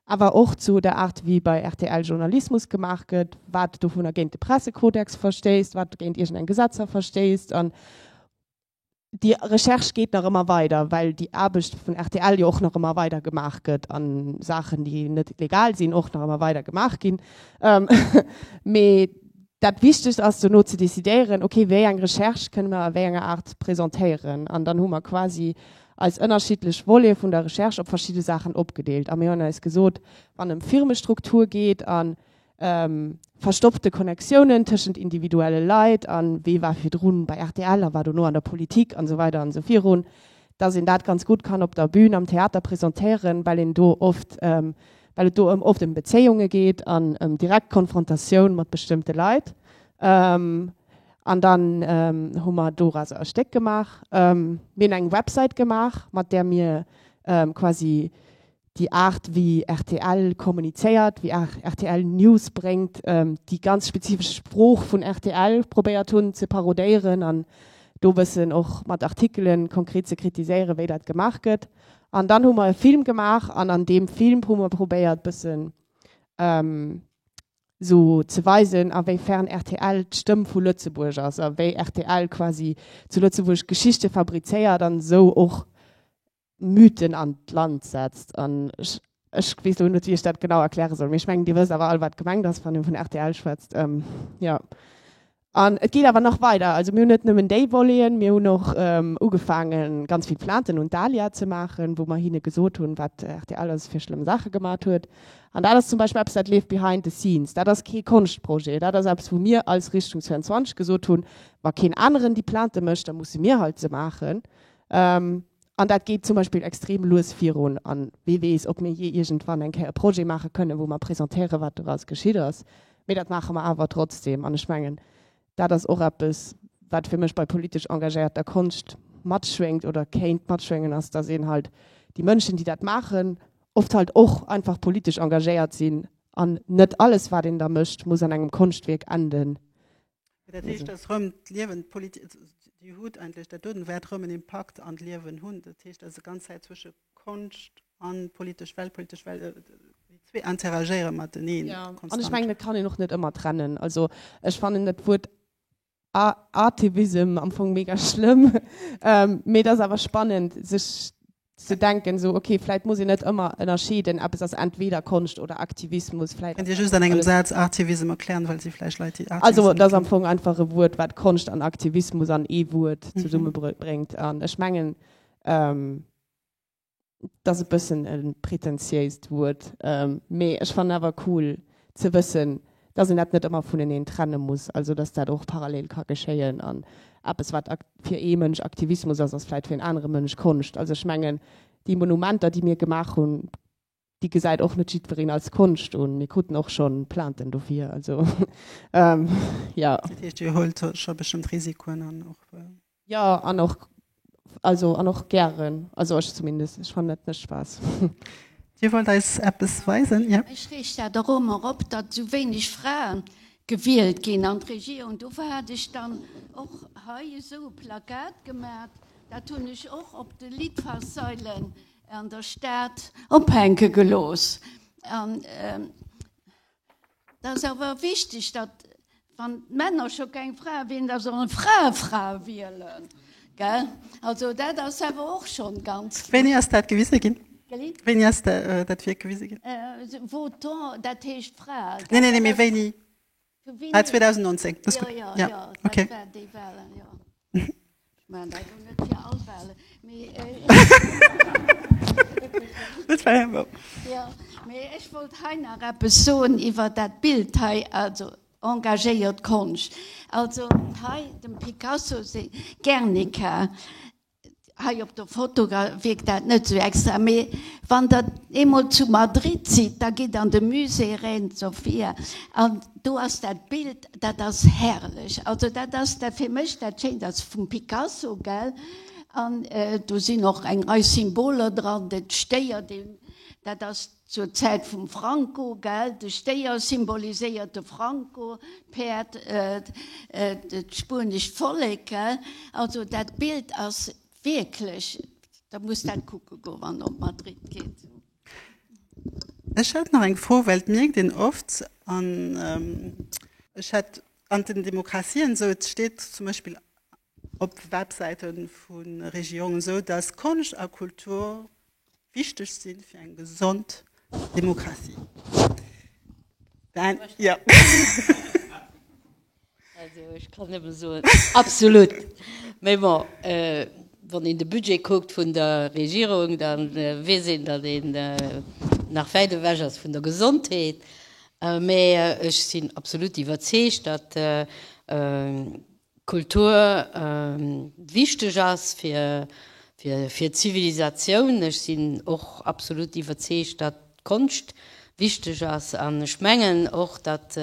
awer och zu der Aart wéi bei rtl Journalismus gemaach gëtt, wat dovunner géint de Pressekodex verstéisst, wat géint iergend eng Gesetzer verstéisst. An déi Recherche geet nach ëmmer weider, well déi Aarbecht vun rtl jo och nach ëmmer weider gemaach gëtt a Saachen, déi net legal sinn, och nach ëmmer weider gemaach ginn. Mee Dat Wichtegst ass dono ze decidéieren, ok, wéi eng Recherche kënne mer a wéi enger Aart presentéieren. An dann hu mer quasi eis ënnerschiddlech Volete vun der Recherche op verschidde Saachen opgedeelt. A mir hunn eis gesot, wann ëm Firmestruktur geet a verstoppte Connectiounen tëschent individuelle Leit a wee war virdru bei rtl a war dono an der Politik an esou weider an esou virun, dass een dat ganz gutt kann op der Bün am Theater presentéieren, well een do oft well et do ëm oft ëm Bezéiunge geet an ëm direkt Konfrontatioun mat bestëmmte Leit. An dann hu mer doraus e Stéck gemaach. Mir hunn eng Websäit gemaach, mat där mir quasi déi Aart wéi rtl kommunizéiert, wéi rtl News bréngt, déi ganz spezifesch Sprooch vun rtl probéiert hunn ze parodéieren an do e bëssen och mat Artikelen konkret ze kritiséieren, wéi dat gemaach gëtt. An dann hu mer e Film gemaach an an deem Film hu mer probéiert bëssen esou ze weisen, a wéi fern rtl d'Stëmm vu Lëtzebuerg ass a wéi rtl quasi zu Lëtzebuerg Geschichte fabrizéiert an esou och Mythen an d'Land setzt. An ech Ech weess elo net, wéi ech dat genau erkläre soll, mee ech mengen, Dir wësst awer all, wat gemengt ass, wann ee vun rtl schwätzt. Jo. An et geet awer nach weider. Also mir hunn net nëmmen déi Voleten, mir hunn och ugefaange ganz vill Plainten un d'ALIA ze maachen, wou mer hinne gesot hunn, wat rtl alles fir schlëmm Saache gemat huet. An dat ass zum Beispill eppes, dat leeft behind the scenes. Dat ass kee Konschtprojet. Dat ass eppes, wou mir als Richtung 22 gesot hunn, Wa keen aneren déi Plainte mécht, da musse mir halt se maachen. An dat geet zum Beispill extrem lues virun. A wee weess, ob mir jee iergendwann eng Kéier e Projet maache kënnen, wou mer presentéieren, wat doraus geschitt ass. Mee dat maache mer awer trotzdeem. An ech mengen, dat ass och eppes, wat fir mech bei politesch engagéierter Konscht matschwéngt oder kéint matschwéngen, ass, dass een halt déi Mënschen, déi dat maachen, oft halt och einfach politesch engagéiert sinn an net alles, wat een da mécht, muss an engem Konschtwierk enden, Dat heescht ass rëm d'Liewen Dir hutt eigentlech dat doten, wäert rëm en Impakt an d'Liewen hunn. Dat heescht ass e ganz Zäit zwësche Konscht an politesch Welt, politesch Welt, déi zwee interagéiere mateneen konstant. An ech mengen, et kann een och net ëmmer trennen. Also ech fannen dat Wuert Artivism am Fong mega schlëmm, mee et ass awer spannend sech Ze denken esou, ok, vläit muss een net ëmmer ënnerscheeden, eppes ass entweder Konscht oder Aktivismus, vläit ass einfach alles. Also et ass am Fong einfach e Wuert, wat Konscht an Aktivismus an ee Wuert zesummebréngt. An ech mengen, et ass e bëssen e pretentiéist Wuert, mee ech fannen awer cool, ze wëssen, dass een dat net ëmmer vuneneen trenne muss, also dass dat och parallel ka geschéien an eppes, wat fir ee Mënsch Aktivismus ass, ass vläicht fir en anere Mënsch Konscht. Also ech mengen, déi Monumenter, déi mir gemaach hunn, déi gesäit och net jiddwereen als Konscht un. Mir kruten och scho Plainten dofir. Also, jo. Dat heescht, Dir huelt scho bestëmmt Risikoen an och. Jo, an och, also, an och gären. Also ech zumindest, ech fannen dat net Spaass. Dir wollt eis eppes weisen? Jo. Ech reech dat och ëmmer op, datt esou wéineg Frae gewielt ginn an d'Regierung. Dofir hat ech dann och hei esou e Plakat gemat. Dat hunn ech och op de Litfaßsäulen an der Stad ophänke gelooss. Dat ass awer wichteg, datt, wann d'Männer scho keng Frae wielen, datt och d'Frae Frae wielen. Also dat ass awer och scho ganz kloer. Wéini ass dat gewise ginn? Wéini ass dat Wierk gewise ginn? Votons, dat heescht Frae. Neen, neen, mee wéini? Ah, 2019. Jo, jo, jo, dat war déi Wahlen, jo. Ech wollt hei nach eppes soen iwwer dat Bild hei, also engagéiert Konscht. Also hei dem Picasso seng Guernica, hei op der Foto wierkt dat net esou extra, mee wann Der eemol zu Madrid sidd, da gitt an de Musée Reina Sofía an do ass dat Bild. Dat ass herrlech. Also dat ass dat fir mech dat Schéint. Dat ass vum Picasso, gell? An do sinn och eng Rei Symboler dran, de Stéier, deen, dat ass zur Zäit vum Franco, gell? De Stéier symboliséiert de Franco, d'Päerd, dat spuenescht Vollek, gell? Also dat Bild ass wierklech, der muss dat kucke goen, wann der op Madrid geet. Ech hätt nach eng Fro, well et mierkt een oft an ech hätt an den Demokratien esou, et steet zum Beispill op Websäite vu Regierungen esou, datt Konscht a Kultur wichteg si fir eng gesond Demokratie. Also ech kann nëmme soen, absolut! Mee bon, wann een de Budget kuckt vun der Regierung, da weess een, datt een nach wäit ewech ass vun der Gesondheet. Mee ech sinn absolut iwwerzeegt, datt Kultur wichteg ass fir d'Zivilisatioun. Ech sinn och absolut iwwerzeegt, datt Konscht wichteg ass. An ech mengen och, datt,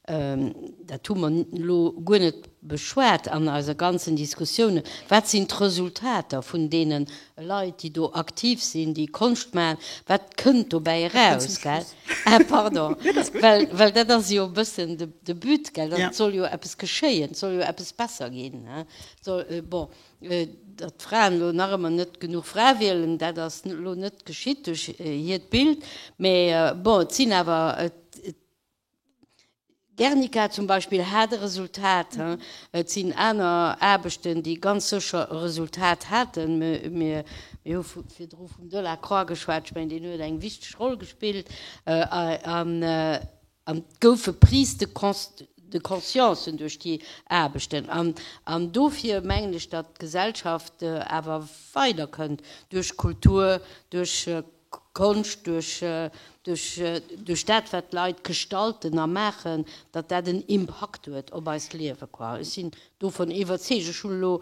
dat hu mer elo guer net beschwat an eise ganzen Diskussiounen, wat sinn d'Resultater vun deene Leit, déi do aktiv sinn, déi Konscht maachen, wat kënnt dobäi eraus, gell? Ah pardon, well dat ass jo e bëssen de But, gell, datt et soll jo eppes geschéien, et soll jo eppes besser ginn, bon. Datt d'Fraen elo nach ëmmer net genuch Frae wielen, dat ass elo net geschitt duerch hiert Bild, mä bon, et sinn awer, Guernica zum Beispill hat e Resultat, et sinn aner Aarbechten, déi ganz sécher e Resultat haten. Mir hu virdru vum Delacroix geschwat, ech mengen, deen huet eng wichteg Roll gespillt. An et gouf e Prise de de conscience duerch déi Aarbechten. An dofir mengen ech, datt d'Gesellschaft awer weider kënnt, duerch Kultur, duerch Konscht, duerch dat, wat d'Leit gestalten a maachen, datt dat en Impakt huet op eist Liewe. Ech sinn dovun iwwerzeegt. Ech hunn elo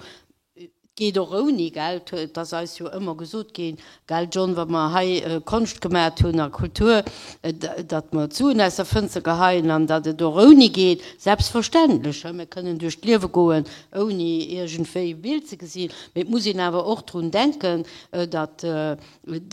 Et geet och ouni Geld, et ass eis jo ëmmer gesot ginn, gell John, wa mer hei Konscht gemaacht hunn a Kultur, datt mer d'Suen aus der Fënster geheien an datt et och ouni geet. Selbstverständlech, mir kënnen duerch d'Liewe goen, ouni iergendwéi e Bild ze gesinn, mee et muss een awer och drun denken, datt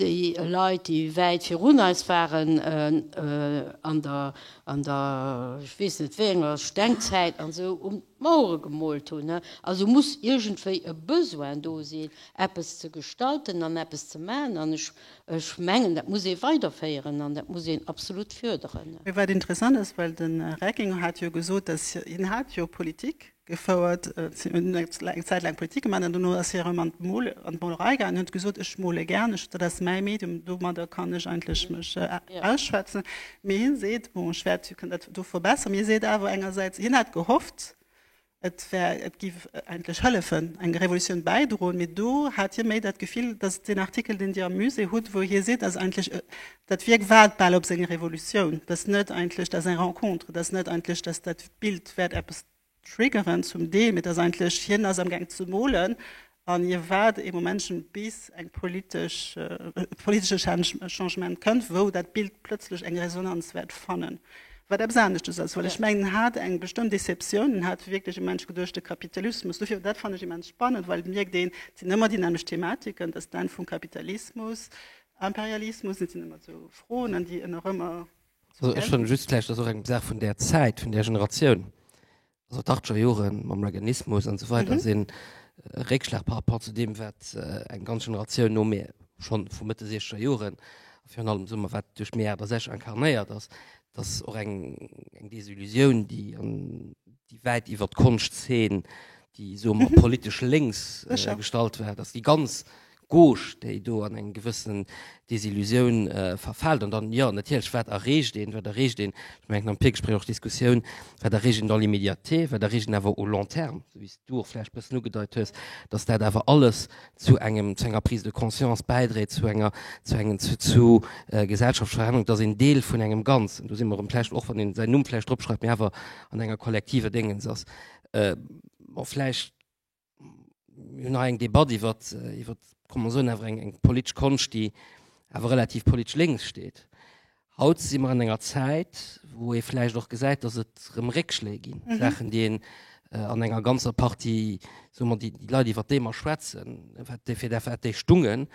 déi Leit, déi wäit virun eis waren an der, an der, ech weess net wéi enger, Stengzäit an esou, um. D'Mauere gemoolt hunn. Also muss iergendwéi e Besoin do sinn, eppes ze gestalten an eppes ze maachen. An ech mengen, dat muss ee weiderféieren an dat muss een absolut förderen. Mee wat interessant ass, well de Reckinger hat jo gesot, dass hien hat jo Politik gefouert, hien huet eng Zäit laang Politik gemaach an dono ass hie erëm an d'Molerei gaangen. Hien huet gesot, ech mole gär, dat ass mäi Medium, domadder kann ech eigentlech mech ausschwätzen. Mee hie seet, bon ech wäert kucken dat do verbesseren, mee hie seet awer engersäits, hien hätt gehofft, et wär, et giff eigentlech hëllefen, eng Revolutioun bäidroen, mee do hat hie méi dat Gefill, dass deen Artikel, deen Dir am Musée hutt, wou hie seet, dass eigentlech dat Wierk waart bal op seng Revolutioun, dass net eigentlech, dass eng Rencontre, dass net eigentlech, dass dat Bild wäert eppes Triggerend zum Deel, et ass eigentlech, hien ass amgaang ze molen an hie waart ee Momentchen, bis eng politesch, e politesche Changement kënnt, wou dat Bild plötzlech eng Resonanz wäert fannen, wat eppes aneschtes ass. Well ech mengen, en hat eng bestëmmt Deceptioun, en hat wierklech e Mensch geduecht, de Kapitalismus, dofir, dat fannen ech immens spannend, well et mierkt een, et sinn ëmmer déi nämmlecht Thematiken, dass d'Enn vum Kapitalismus, Imperialismus, et sinn ëmmer esou Froen, an déi een och ëmmer Also ech fanne just vläicht, dat ass och eng Saach vun där Zäit, vun där Generatioun, also d'Achtger Joren mam Reaganismus an esou weider si Réckschlag par rapport zu deem, wat eng ganz Generatioun no mir schonn vu Mëtte siechzeger Joren, a virun allem soe mer, wat duerch Mee 68 incarnéiert ass. Dat ass och eng Desillusioun, déi an déi wäit iwwer d'Konschtzeen, déi, soe mer, politesch lénks gestallt war, datt déi ganz Gauche, déi do an eng gewëssen Desillusioun verfält. An dann, jo, natierlech, wat erreecht een? Wat erreecht een, ech mengen am Virgespréich och d'Diskussioun, wat erreecht een dans l'immédiateté, wat erreecht een awer au long terme, esou wéi s du och vläicht e bëssen ugedeit hues, datt dat awer alles zu engem, zu enger Prise de conscience bäidréit, zu enger, zu engem, zu Gesellschaftsverännerung, datt een Deel vun engem Ganzen, do si mer erëm vläicht, och wann een säin Numm vläicht drop schreift, mee awer an enger kollektiver Déngens ass. Bon, vläicht. mir hunn hei eng Debatt iwwer, iwwer, kann mer soen, awer eng, eng politesch Konscht, déi awer relativ politesch lénks steet. Haut si mer an enger Zäit, wou ee vläicht och gesäit, datt et erëm Réckschléi ginn, Saachen, déi een an enger ganzer Partie, soe mer, déi Leit, iwwer déi mer schwätzen, wat déi, fir wat déi stungen,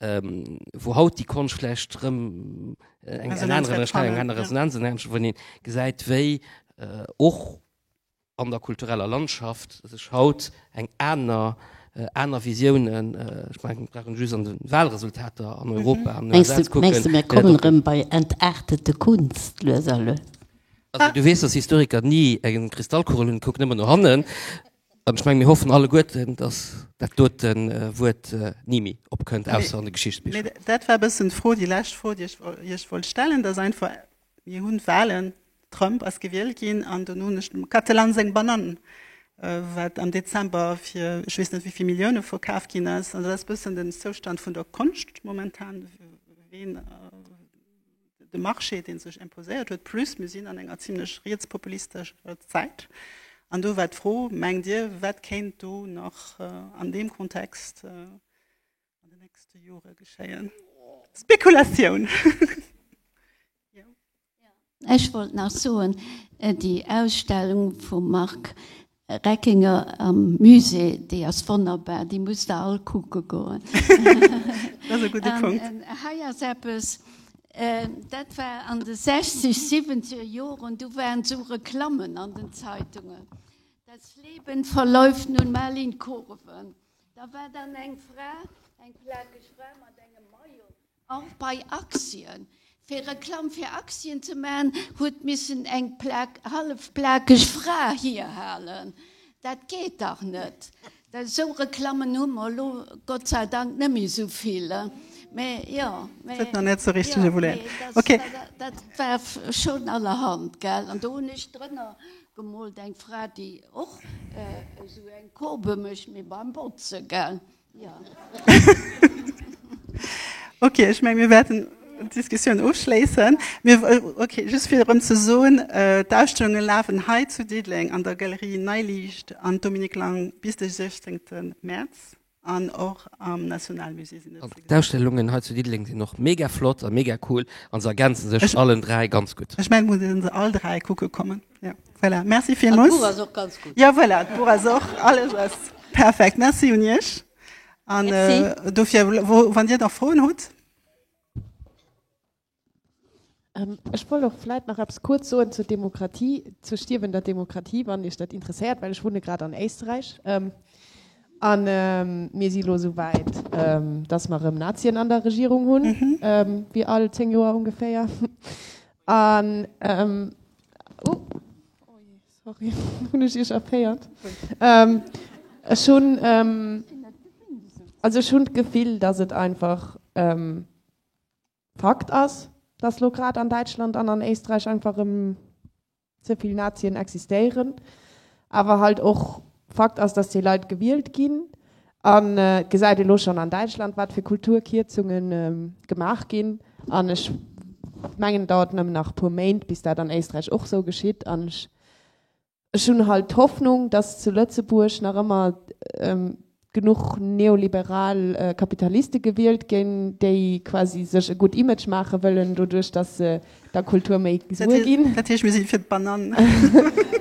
wou haut déi Konscht vläicht erëm eng aner Resonanz erhält, wou een gesäit, wéi och, an der kultureller Landschaft sech haut eng aner, aner Visiounen, ech mengen, mir brauchen just an de Wahlresultater an Europa an den USA ze kucken. Mengs du, mir kommen erëm bei entartete Kunst lues a lues? Also, du weess, dass Historiker ni eng Kristallkugel hunn, kucken ëmmer no hannen. An ech mengen, mir hoffen alleguerten, dass dat dote Wuert ni méi opkënnt, ausser an de Geschichtsbicher. Mee dat war e bëssen d'Fro, déi lescht Fro, déi ech Iech wollt stellen, dass einfach Mir hunn Wahlen, Trump ass gewielt ginn an dono hunn ech dem Katelan seng Banann, wat am Dezember fir ech weess net wéivill Millioune verkaf ginn ass. An dat ass e bëssen den Zoustand vun der Konscht momentan, ween de Marché, dee sech imposéiert huet, plus mir sinn an enger zimlech rietspopulistescher Zäit. An do war d'Fro, mengt Dir, wat kéint do nach an deem Kontext Spekulatioun! Ech wollt nach soen, déi Ausstellung vum Marc Reckinger am Musée, déi ass wonnerbar, déi musst der all kucke goen. An hei ass eppes, dat war an de sechzeg, siwwenzeger Joren, do waren esou Reklammen an den Zeitungen, Das Leben verläuft nun mal in Kurven. Da war dann eng Fra, eng plakeg Fra mat engem Maillot, och bei Aktien. Fir Reklamm fir Aktien ze maachen, huet missen eng hallef plakeg Fra hierhalen. Dat geet dach net! Esou Reklammen hu mer elo Gott sei Dank net méi esou vill. Mä jo, mä jo, dat war schonn allerhand, gell? An do hunn ech drënner. Gemoolt eng Fra déi och esou eng Courbe mécht mee beim Botzen gell jo. Ok, ech meng mir wäerten d'Diskussioun ofschléissen. Mir ok just fir erëm ze soen, d'Ausstellunge lafen hei zu Diddeleng an der Galerie Neiliicht an Dominique Lang bis de 16 Mäerz. An och am Nationalmusée sinn et se. D'Ausstellungen hei zu Diddeleng sinn och mega flott a mega cool a se ergänze sech allen dräi ganz gutt. Ech menge mir se all dräi kucke kommen. Jo, voilà. Merci villmools. D'Buch ass och ganz gutt. Jo, voilà, d'Buch ass och, alles ass perfekt. Merci un Iech. An dofir, wann Dir nach Froen hutt. Ech wollt och vläit nach eppes kuerz soen zur Demokratie, zur stierwender Demokratie, wann Iech dat interesséiert, well ech wunne grad an Éisterräich. A mir si elo esou wäit, datt mer erëm Nazien an der Regierung hunn, wéi all zéng Joer ongeféier. An, o jee, sorry, hunn ech Iech erféiert? Ech hunn, also ech hunn d'Gefill, datt et einfach, Fakt ass, dass lo grad an Däitschland an an Éisträich einfach erëm ze vill Nazien existéieren. Awer halt och Fakt ass, dass déi Leit gewielt ginn. An et gesäit ee lo schonn an Däitschland, wat fir Kulturkierzunge gemaach ginn. An ech mengen, et dauert nëmmen nach e puer Méint, bis dat an Éisträich och esou geschitt. An ech Ech hunn halt d'Hoffnung, dass zu Lëtzebuerg nach ëmmer genuch neoliberal Kapitaliste gewielt ginn, déi quasi sech e gutt Image maache wëllen, doduerch dass se der Kultur méi Suer ginn. Dat heescht, mir si fir d'Banan.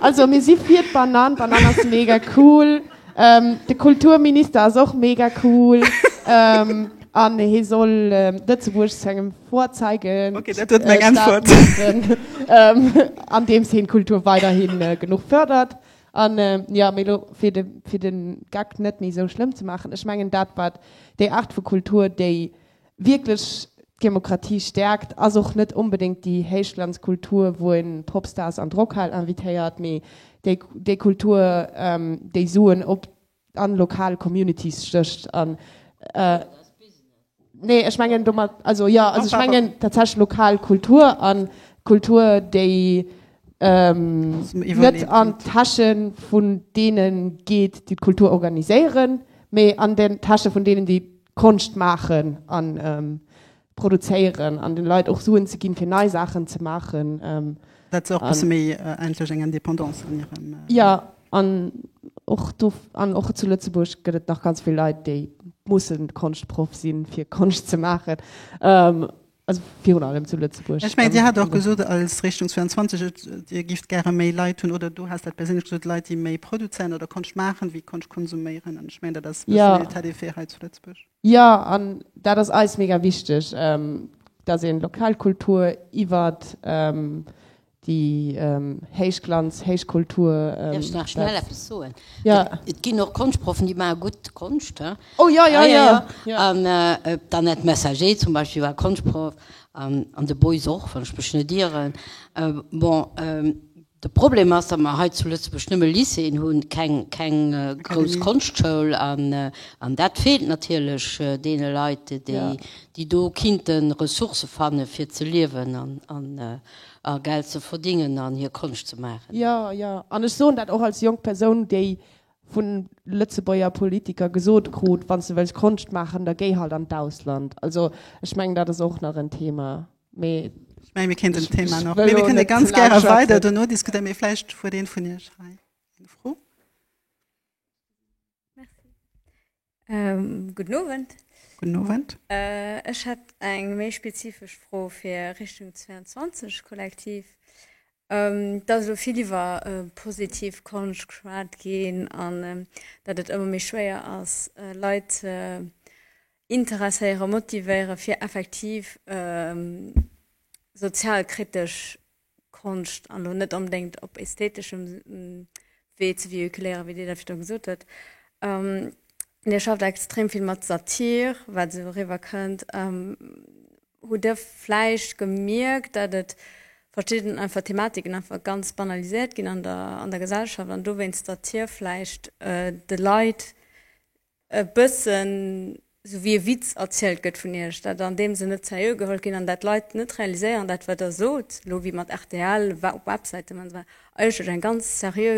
Also, mir si fir d'Banan. D'Banan ass mega cool. De Kulturminister ass och mega cool. An hie soll Lëtzebuerg zu engem. Vorzeigen, okay, dat huet meng Äntwert. An deem Sinn d'Kultur weiderhin genuch fërdert. An jo, méi elo fir de fir de Geck net méi esou schlëmm ze maachen, ech mengen dat wat déi Aart vu Kultur, déi wierklech d'Demokratie stäerkt, ass och net onbedéngt déi Héichglanzkultur, wou een d'Popstars an d'Rockhal invitéiert, mee déi déi Kultur, déi Suen op An lokal Communities stécht an. Nee, ech mengen domat, also jo, also ech mengen tatsächlech lokal Kultur an Kultur, déi net an d'Täsche vun deene geet, déi d'Kultur organiséieren, mee an den Täsche vun deenen, déi d'Konscht maachen an Produzéieren an den Leit och Suen ze ginn fir nei Saachen ze maachen. Dat se och e bësse méi endlech eng Indépendance an hirem. Jo an och do an och zu Lëtzebuerg gëtt et nach ganz vill Leit déi mussen Konschtproff sinn fir Konscht ze maachen. Also virun allem zu Lëtzebuerg. Ech mengen Dir hat och gesot als Richtung 22 Dir gift gäre méi Leit hunn oder du has dat perséinlech gesot Leit déi méi produzéieren oder Konscht maachen wéi Konscht konsuméieren an ech mengen dat ass e bëssen den Etat des faits hei zu Lëtzebuerg. Jo, an dat ass eis mega wichteg, dass een lokal Kultur iwwert déi Héichglanz, Héichkultur. Däerf ech nach schnell eppes soen? Jo. Et ginn och Konschtproffen, déi maache gutt Konscht, he. Oh jo, jo, jo. An d'Annette Messager zum Beispill war Konschtproff, an de Boys och, wann ech mech net ieren. Bon, De Problem ass, datt mer hei zu Lëtzebuerg nëmme Lycéeën hunn, keng grouss Konschtschoul. An dat feelt natierlech deene Leit, déi do kinnte Ressourcë fanne fir ze liewen a Geld ze verdingen an hir Konscht ze maachen. Jo, jo. An ech soen dat och als jonk Persoun, déi vu Lëtzebuerger Politiker gesot krut, Wann s de wëlls Konscht maachen, da géi halt an d'Ausland. Also ech mengen, dat ass och nach en Thema. Mee Ich meine, wir kennen das Thema noch. Wir können ganz gerne weiter danach diskutieren, wir vielleicht vor den von ihr schreien. Eine Frau? Ähm, guten Abend. Guten Abend. Äh, ich hätte eine mehr spezifische Frage für Richtung 22 Kollektiv. Ähm, dass so viel über äh, positiv Kunst geschwärzt gehen und ähm, dass es immer mehr schwer ist, äh, Leute. Äh, Interesséieren, motivéieren fir effektiv sozialkritesch Konscht, an elo net onbedéngt op ästheteschem Wee, ze véhiculéieren, wéi Dir dat virdu gesot hutt. Dir schafft extrem vill mat Satir, wat esou eriwwer kënnt. Hutt Dir vläicht gemierkt, datt et verschidden einfach Thematiken einfach ganz banaliséiert ginn an der Gesellschaft an dowéinst Satir vläicht de Leit e bëssen esou wéi e Witz erzielt gëtt vun Iech, dat an deem Sënn net seriö geholl ginn an dat d'Leit net realiséieren, dat wat Der sot elo, wéi mat rtl, war op Websäiten an esou weider, eigentlech eng ganz seriö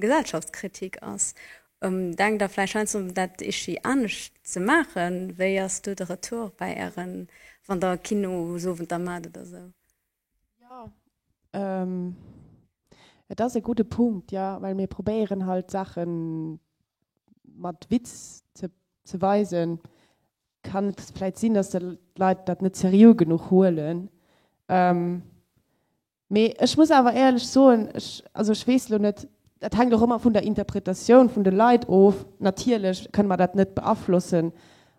Gesellschaftskritik ass. Denkt Der vläicht heiansdo un dat ichi anescht ze maachen? Wéi ass do de Retour bei Ären, wann Der Kinosowenter maacht oder esou? Ähm, et ass e gudde Punkt, jo, well mir probéieren halt Saache mat Witz ze, ze weisen. Kann et vläit sinn, datt d'Leit dat net seriö genuch huelen. Ähm, mee ech muss awer éierlech soen, ech, also ech weess elo net, dat hänkt och ëmmer vun der Interpretatioun vun de Leit of. Natierlech kënne mer dat net beaflossen,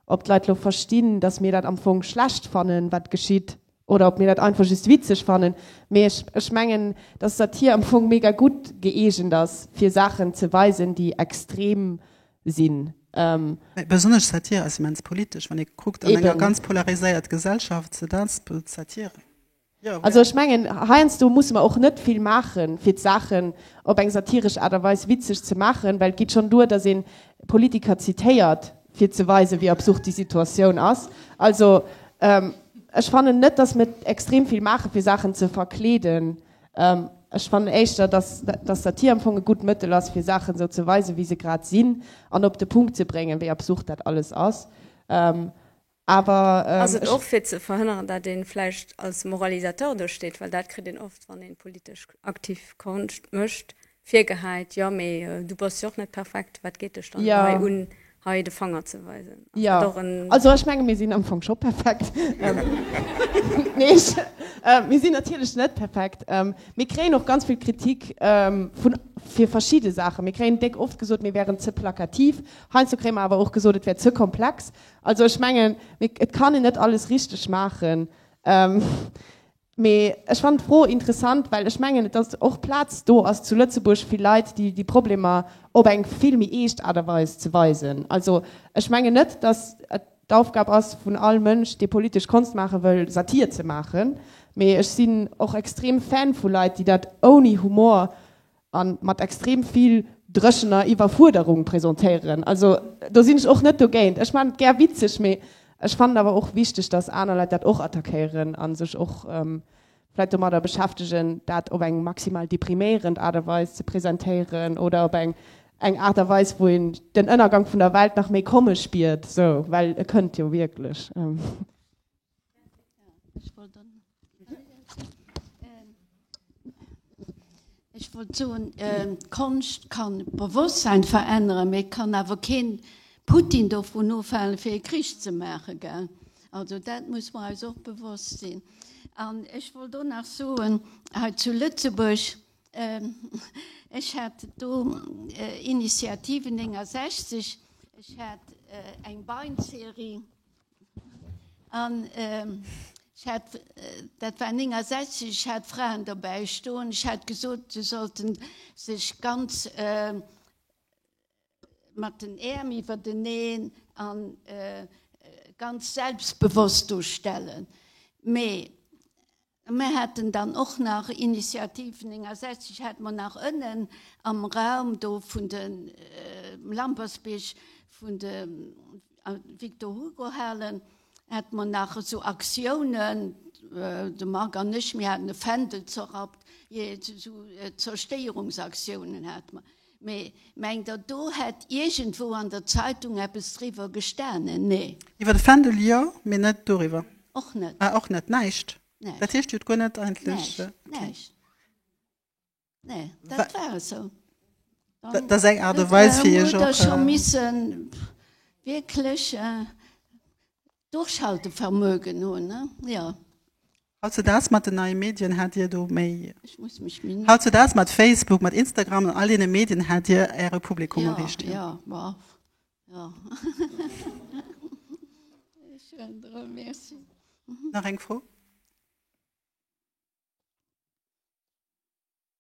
ob d'Leit elo verstinn, datt mir dat am Fong schlecht fannen, wat geschitt. Oder ob mir dat einfach just witzeg fannen. Mee ech, ech mengen, dass Satir am Fong mega gutt gëeegent ass, fir Saachen ze weisen, déi extrem sinn. Mee besonnesch Satir ass immens politesch, wann ee kuckt an enger ganz polariséiert Gesellschaft, se dat bot Satir. Also ech mengen, heiansdo musse mer och net vill maachen, fir d'Saachen op eng satiresch Aart a Weis witzeg ze maachen, well et geet schonn duer, dass ee Politiker zitéiert, fir ze weisen, wéi absurd déi Situatioun ass. Also ech fannen net, dass mir extrem vill maachen, fir Saachen ze verkleeden. Ech fannen éischter, dass dass Satir am Fong e gutt Mëttel ass, fir Saachen esou ze weisen, wéi se grad sinn, an op de Punkt ze bréngen, wéi absurd dat alles ass. Ass et och fir ze verhënneren, dat een vläicht als Moralisateur do steet, well dat kritt een oft wann een politesch aktiv Konscht mécht virgehäit, jo mee du bass jo och net perfekt, wat geet dech dann hei un hei de Fanger ze weisen? Ass dat och en. Also ech menge mir sinn am Fong scho perfekt, nee mir sinn natierlech net perfekt, mir kréien och ganz vill Kritik vun fir verschidde Saachen, mir kréien déck oft gesot mir wären ze plakativ, heiansdo kréie mer awer och gesot et wär ze komplex, Also ech mengen, mee et kann een net alles richteg maachen. Mee ech fannen d'Fro interessant, well ech mengen, datt och Plaz do ass zu Lëtzebuerg fir Leit, déi déi Problemer op eng vill méi eescht Aart a Weis ze weisen. Also ech mengen net, datt et d'Aufgab ass vun all Mënsch, dee politesch Konscht maache wëll, Satir ze maachen. Mee ech sinn och extrem Fan vu Leit, déi dat ouni Humor a mat extrem vill dréchener Iwwerfuerderung presentéieren. Also do sinn ech och net dogéint. Ech maan et gär witzeg, mee ech fannen awer och wichteg, datt aner Leit dat och attackéieren a sech och vläit domadder beschäftegen, dat op eng maximal depriméierend Aart a Weis ze presentéieren oder op eng eng Aart a Weis, wou een den Ënnergank vun der Welt nach méi komme spiert, sou, well e kënnt jo wierklech. Ech wollt dann. Ech wollt so ähm, Konscht kann Bewusstsein verändern, mir kann awer keen Putin do vun ofhalen fir e Krich ze maache gell. Also dat muss man eis och bewosst sinn. An ech wollt do nach soen hei zu Lëtzebuerg ähm, ech hat do äh, Initiative 69, ech hat äh, eng Beinserie. An ech hat, dat war 69, ech hat Fraen dobäi stoen, ech hat gesot, se sollte sech ganz mat den Äerm iwwerteneen an ganz selbstbewosst do stellen. Mee. Mir haten dann och nach Initiativen, 69 hate mer nach ënnen am Raum do vun de Lampertsbierg vun de Victor Hugo Halen, hate mer nach esou Aktiounen, de Marc an ech, mir haten e Fändel zerrappt, jee esou Zerstéierungsaktiounen hate mer. Mee mengt der, do hätt iergendwou an der Zeitung eppes driwwer gestanen? Nee. Iwwer de Fändel jo, mee net doriwwer. Och net. Ah, och net. Näischt. Näischt. Dat heescht, Dir hutt guer net eigentlech. Näischt. Näischt. Nee, dat war esou. Dann. Dat ass eng Aart a Weis, fir Iech och. Huet Der scho missen wierklech Durchhaltevermögen hun, ne? Ja. Hautzedaags mat den neie Medien hat dir do méi. Ich muss mich min. Hautzedaags mat Facebook, mat Instagram an all deene Medien hat dir äre Publikum erreecht. Ja, ja, ja, ja. Merci. Nach eng Fro?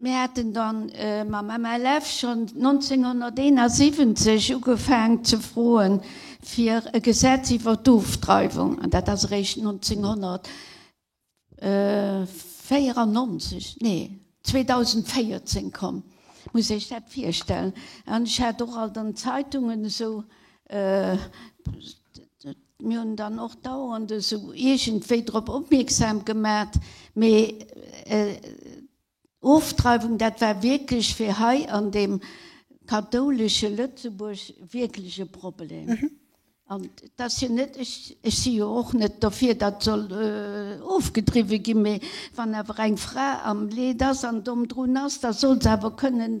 Mir haten dann mam MLF schonn 1971 ugefaang ze froen fir e Gesetz iwwer d'Ofdreiwung, an dat ass eréischt 1994, nee 2014 komm, muss Iech dat virstellen. An ech hat och alt an Zeitungen esou. Mir hunn dann och dauernd esou iergendwéi drop opmierksam gemat, mee Ofdreiwung, dat war wierklech fir hei an deem kathoulesche Lëtzebuerg wierklech e Problem. An et ass jo net, ech si jo och net dofir, datt soll ofgedriwwe ginn, mee wann awer eng Fra am Leed ass an domm drun ass, da soll se awer kënnen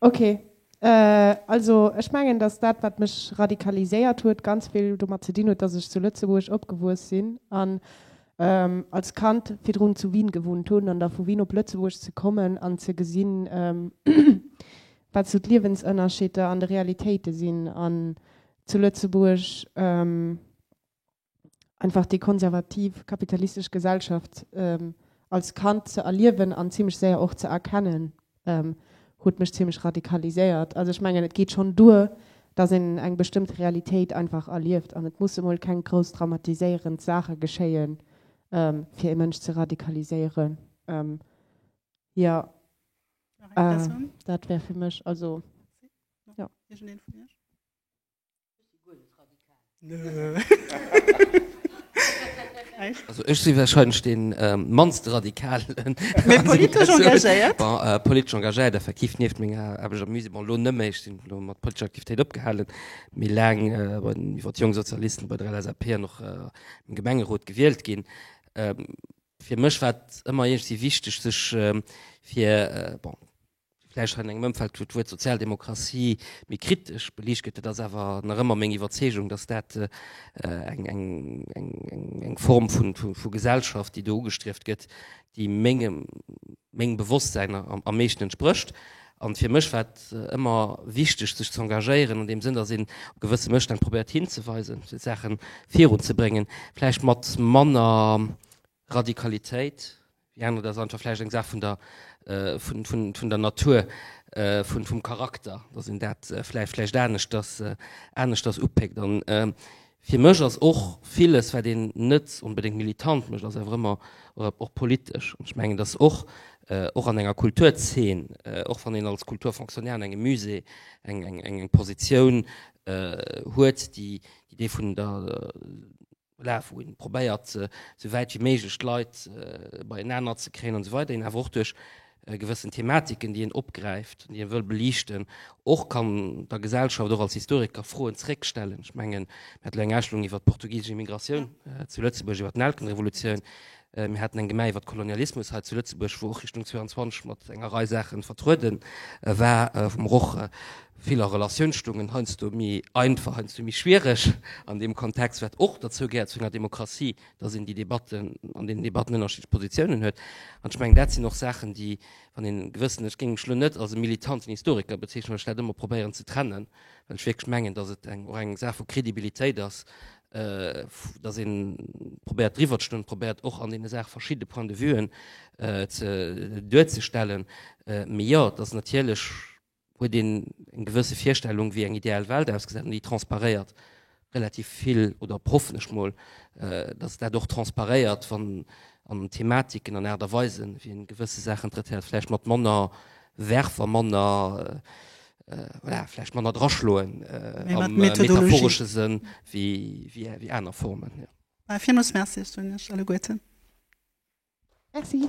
Ok, also ech mengen, dass dat, wat mech radikaliséiert huet, ganz vill domat ze dinn huet, dass ech zu Lëtzebuerg opgewuess sinn an als Kand virdrun zu Wien gewunnt hunn. An da vu Wien op Lëtzebuerg ze kommen an ze gesinn, wat esou d'Liewensënnerscheeder an de Realitéite sinn an zu Lëtzebuerg, einfach déi konservativ kapitalistesch Gesellschaft als Kand ze erliewen an zimmlech séier och ze erkennen, huet mech zimmlech radikaliséiert. Also ech mengen, et geet schonn duer, datt een eng bestëmmte Realitéit einfach erlieft an et musse mol keng grouss dramatiséierend Saache geschéie fir ee Mënsch ze radikaliséieren. Jo, dat wär fir mech. Also, jo. Also ech si wahrscheinlech dee mannst Radikalen. Mee politesch engagéiert? Bon, politesch engagéiert effektiv, nieft menger Aarbecht am Musée. Bon, elo net méi, ech sinn elo mat politescher Aktivitéit opgehalen, mee laang bei den, iwwer d'Jonk Sozialisten, bei der LSAP an och am Gemengerot gewielt ginn. Fir mech war et ëmmer iergendwéi wichteg sech fir, bon, vläicht an engem Ëmfeld, wou d'Wuert Sozialdemokratie méi kritesch beliicht gëtt, et ass awer nach ëmmer meng Iwwerzeegung, datt dat eng Form vu Gesellschaft, déi do ugestrieft gëtt, déi mengem Bewosstsäin am meeschten entsprécht. An fir mech war et ëmmer wichteg, sech ze engagéieren an deem Sënn, datt een op gewësse Mësstänn probéiert hinzeweisen, fir d'Saache virunzebréngen, vläicht mat manner Radikalitéit, déi aner, dat ass einfach vläicht eng Saach vun der, vun, vun, vun der Natur, vun, vum Charakter, dass een dat vläicht, vläicht aneschters, aneschters upéckt. An fir mech ass och villes, wat een net onbedéngt militant mécht, ass awer ëmmer och politesch. An ech mengen, dass och, och an enger Kulturzeen, och wann een als Kulturfonctionnaire an engem Musée eng, eng, eng Positioun huet, déi, déi dee vun der, Voilà, wou een probéiert sou wäit wéi méiglech d'Leit beienaner ze kréien an esou weider, een awer och duerch gewëssen Thematiken déi een opgräift an déi een wëll beliichten och kann der Gesellschaft och als Historiker Froen zréck stellen. Ech mengen mir hat elo eng Ausstellung iwwert d'portugisesch Immigratioun zu Lëtzebuerg, iwwert d'Nelkenrevolutioun, Mir haten eng Gemä iwwert Kolonialismus hei zu Lëtzebuerg, wou och Richtung 22 mat enger Rei Saachen vertrueden war, wou mer och vill a Relatioun stungen, heiansdo méi einfach, heiansdo méi schwiereg an deem Kontext, wat och derzou gehéiert zu enger Demokratie, dass een déi Debatten, an deenen Debatten ënnerschiddlech Positiounen huet. An ech mengen, dat sinn och Saachen, déi, wann een gewëssen, ech géing mech elo net als e militanten Historiker bezeechnen, well ech dat ëmmer probéieren ze trennen, well ech wierklech mengen, dass et eng, och eng Saach vu Credibilitéit ass, äh, dass een probéiert driwwer ze stoen, probéiert och an deene Saach verschiddene Point de Vuen äh, ze, duerzestellen. Äh, mee ja, dat ass natierlech huet een eng gewësse Virstellung, wéi eng ideal Welt ausgesät, déi transparéiert relativ vill oder op hoffen ech mol, äh, dass dat och transparéiert, wann an Thematiken an Aart a Weisen, wéi een gewësse Saachen traitéiert, vläicht mat manner Werf a manner äh, voilà, vläicht manner draschloen äh, am äh, metaphoresche Sënn wie, wie, wie aner Formen. Ja. Ah, Vielmals Merci, ich bin alle Guten. Merci.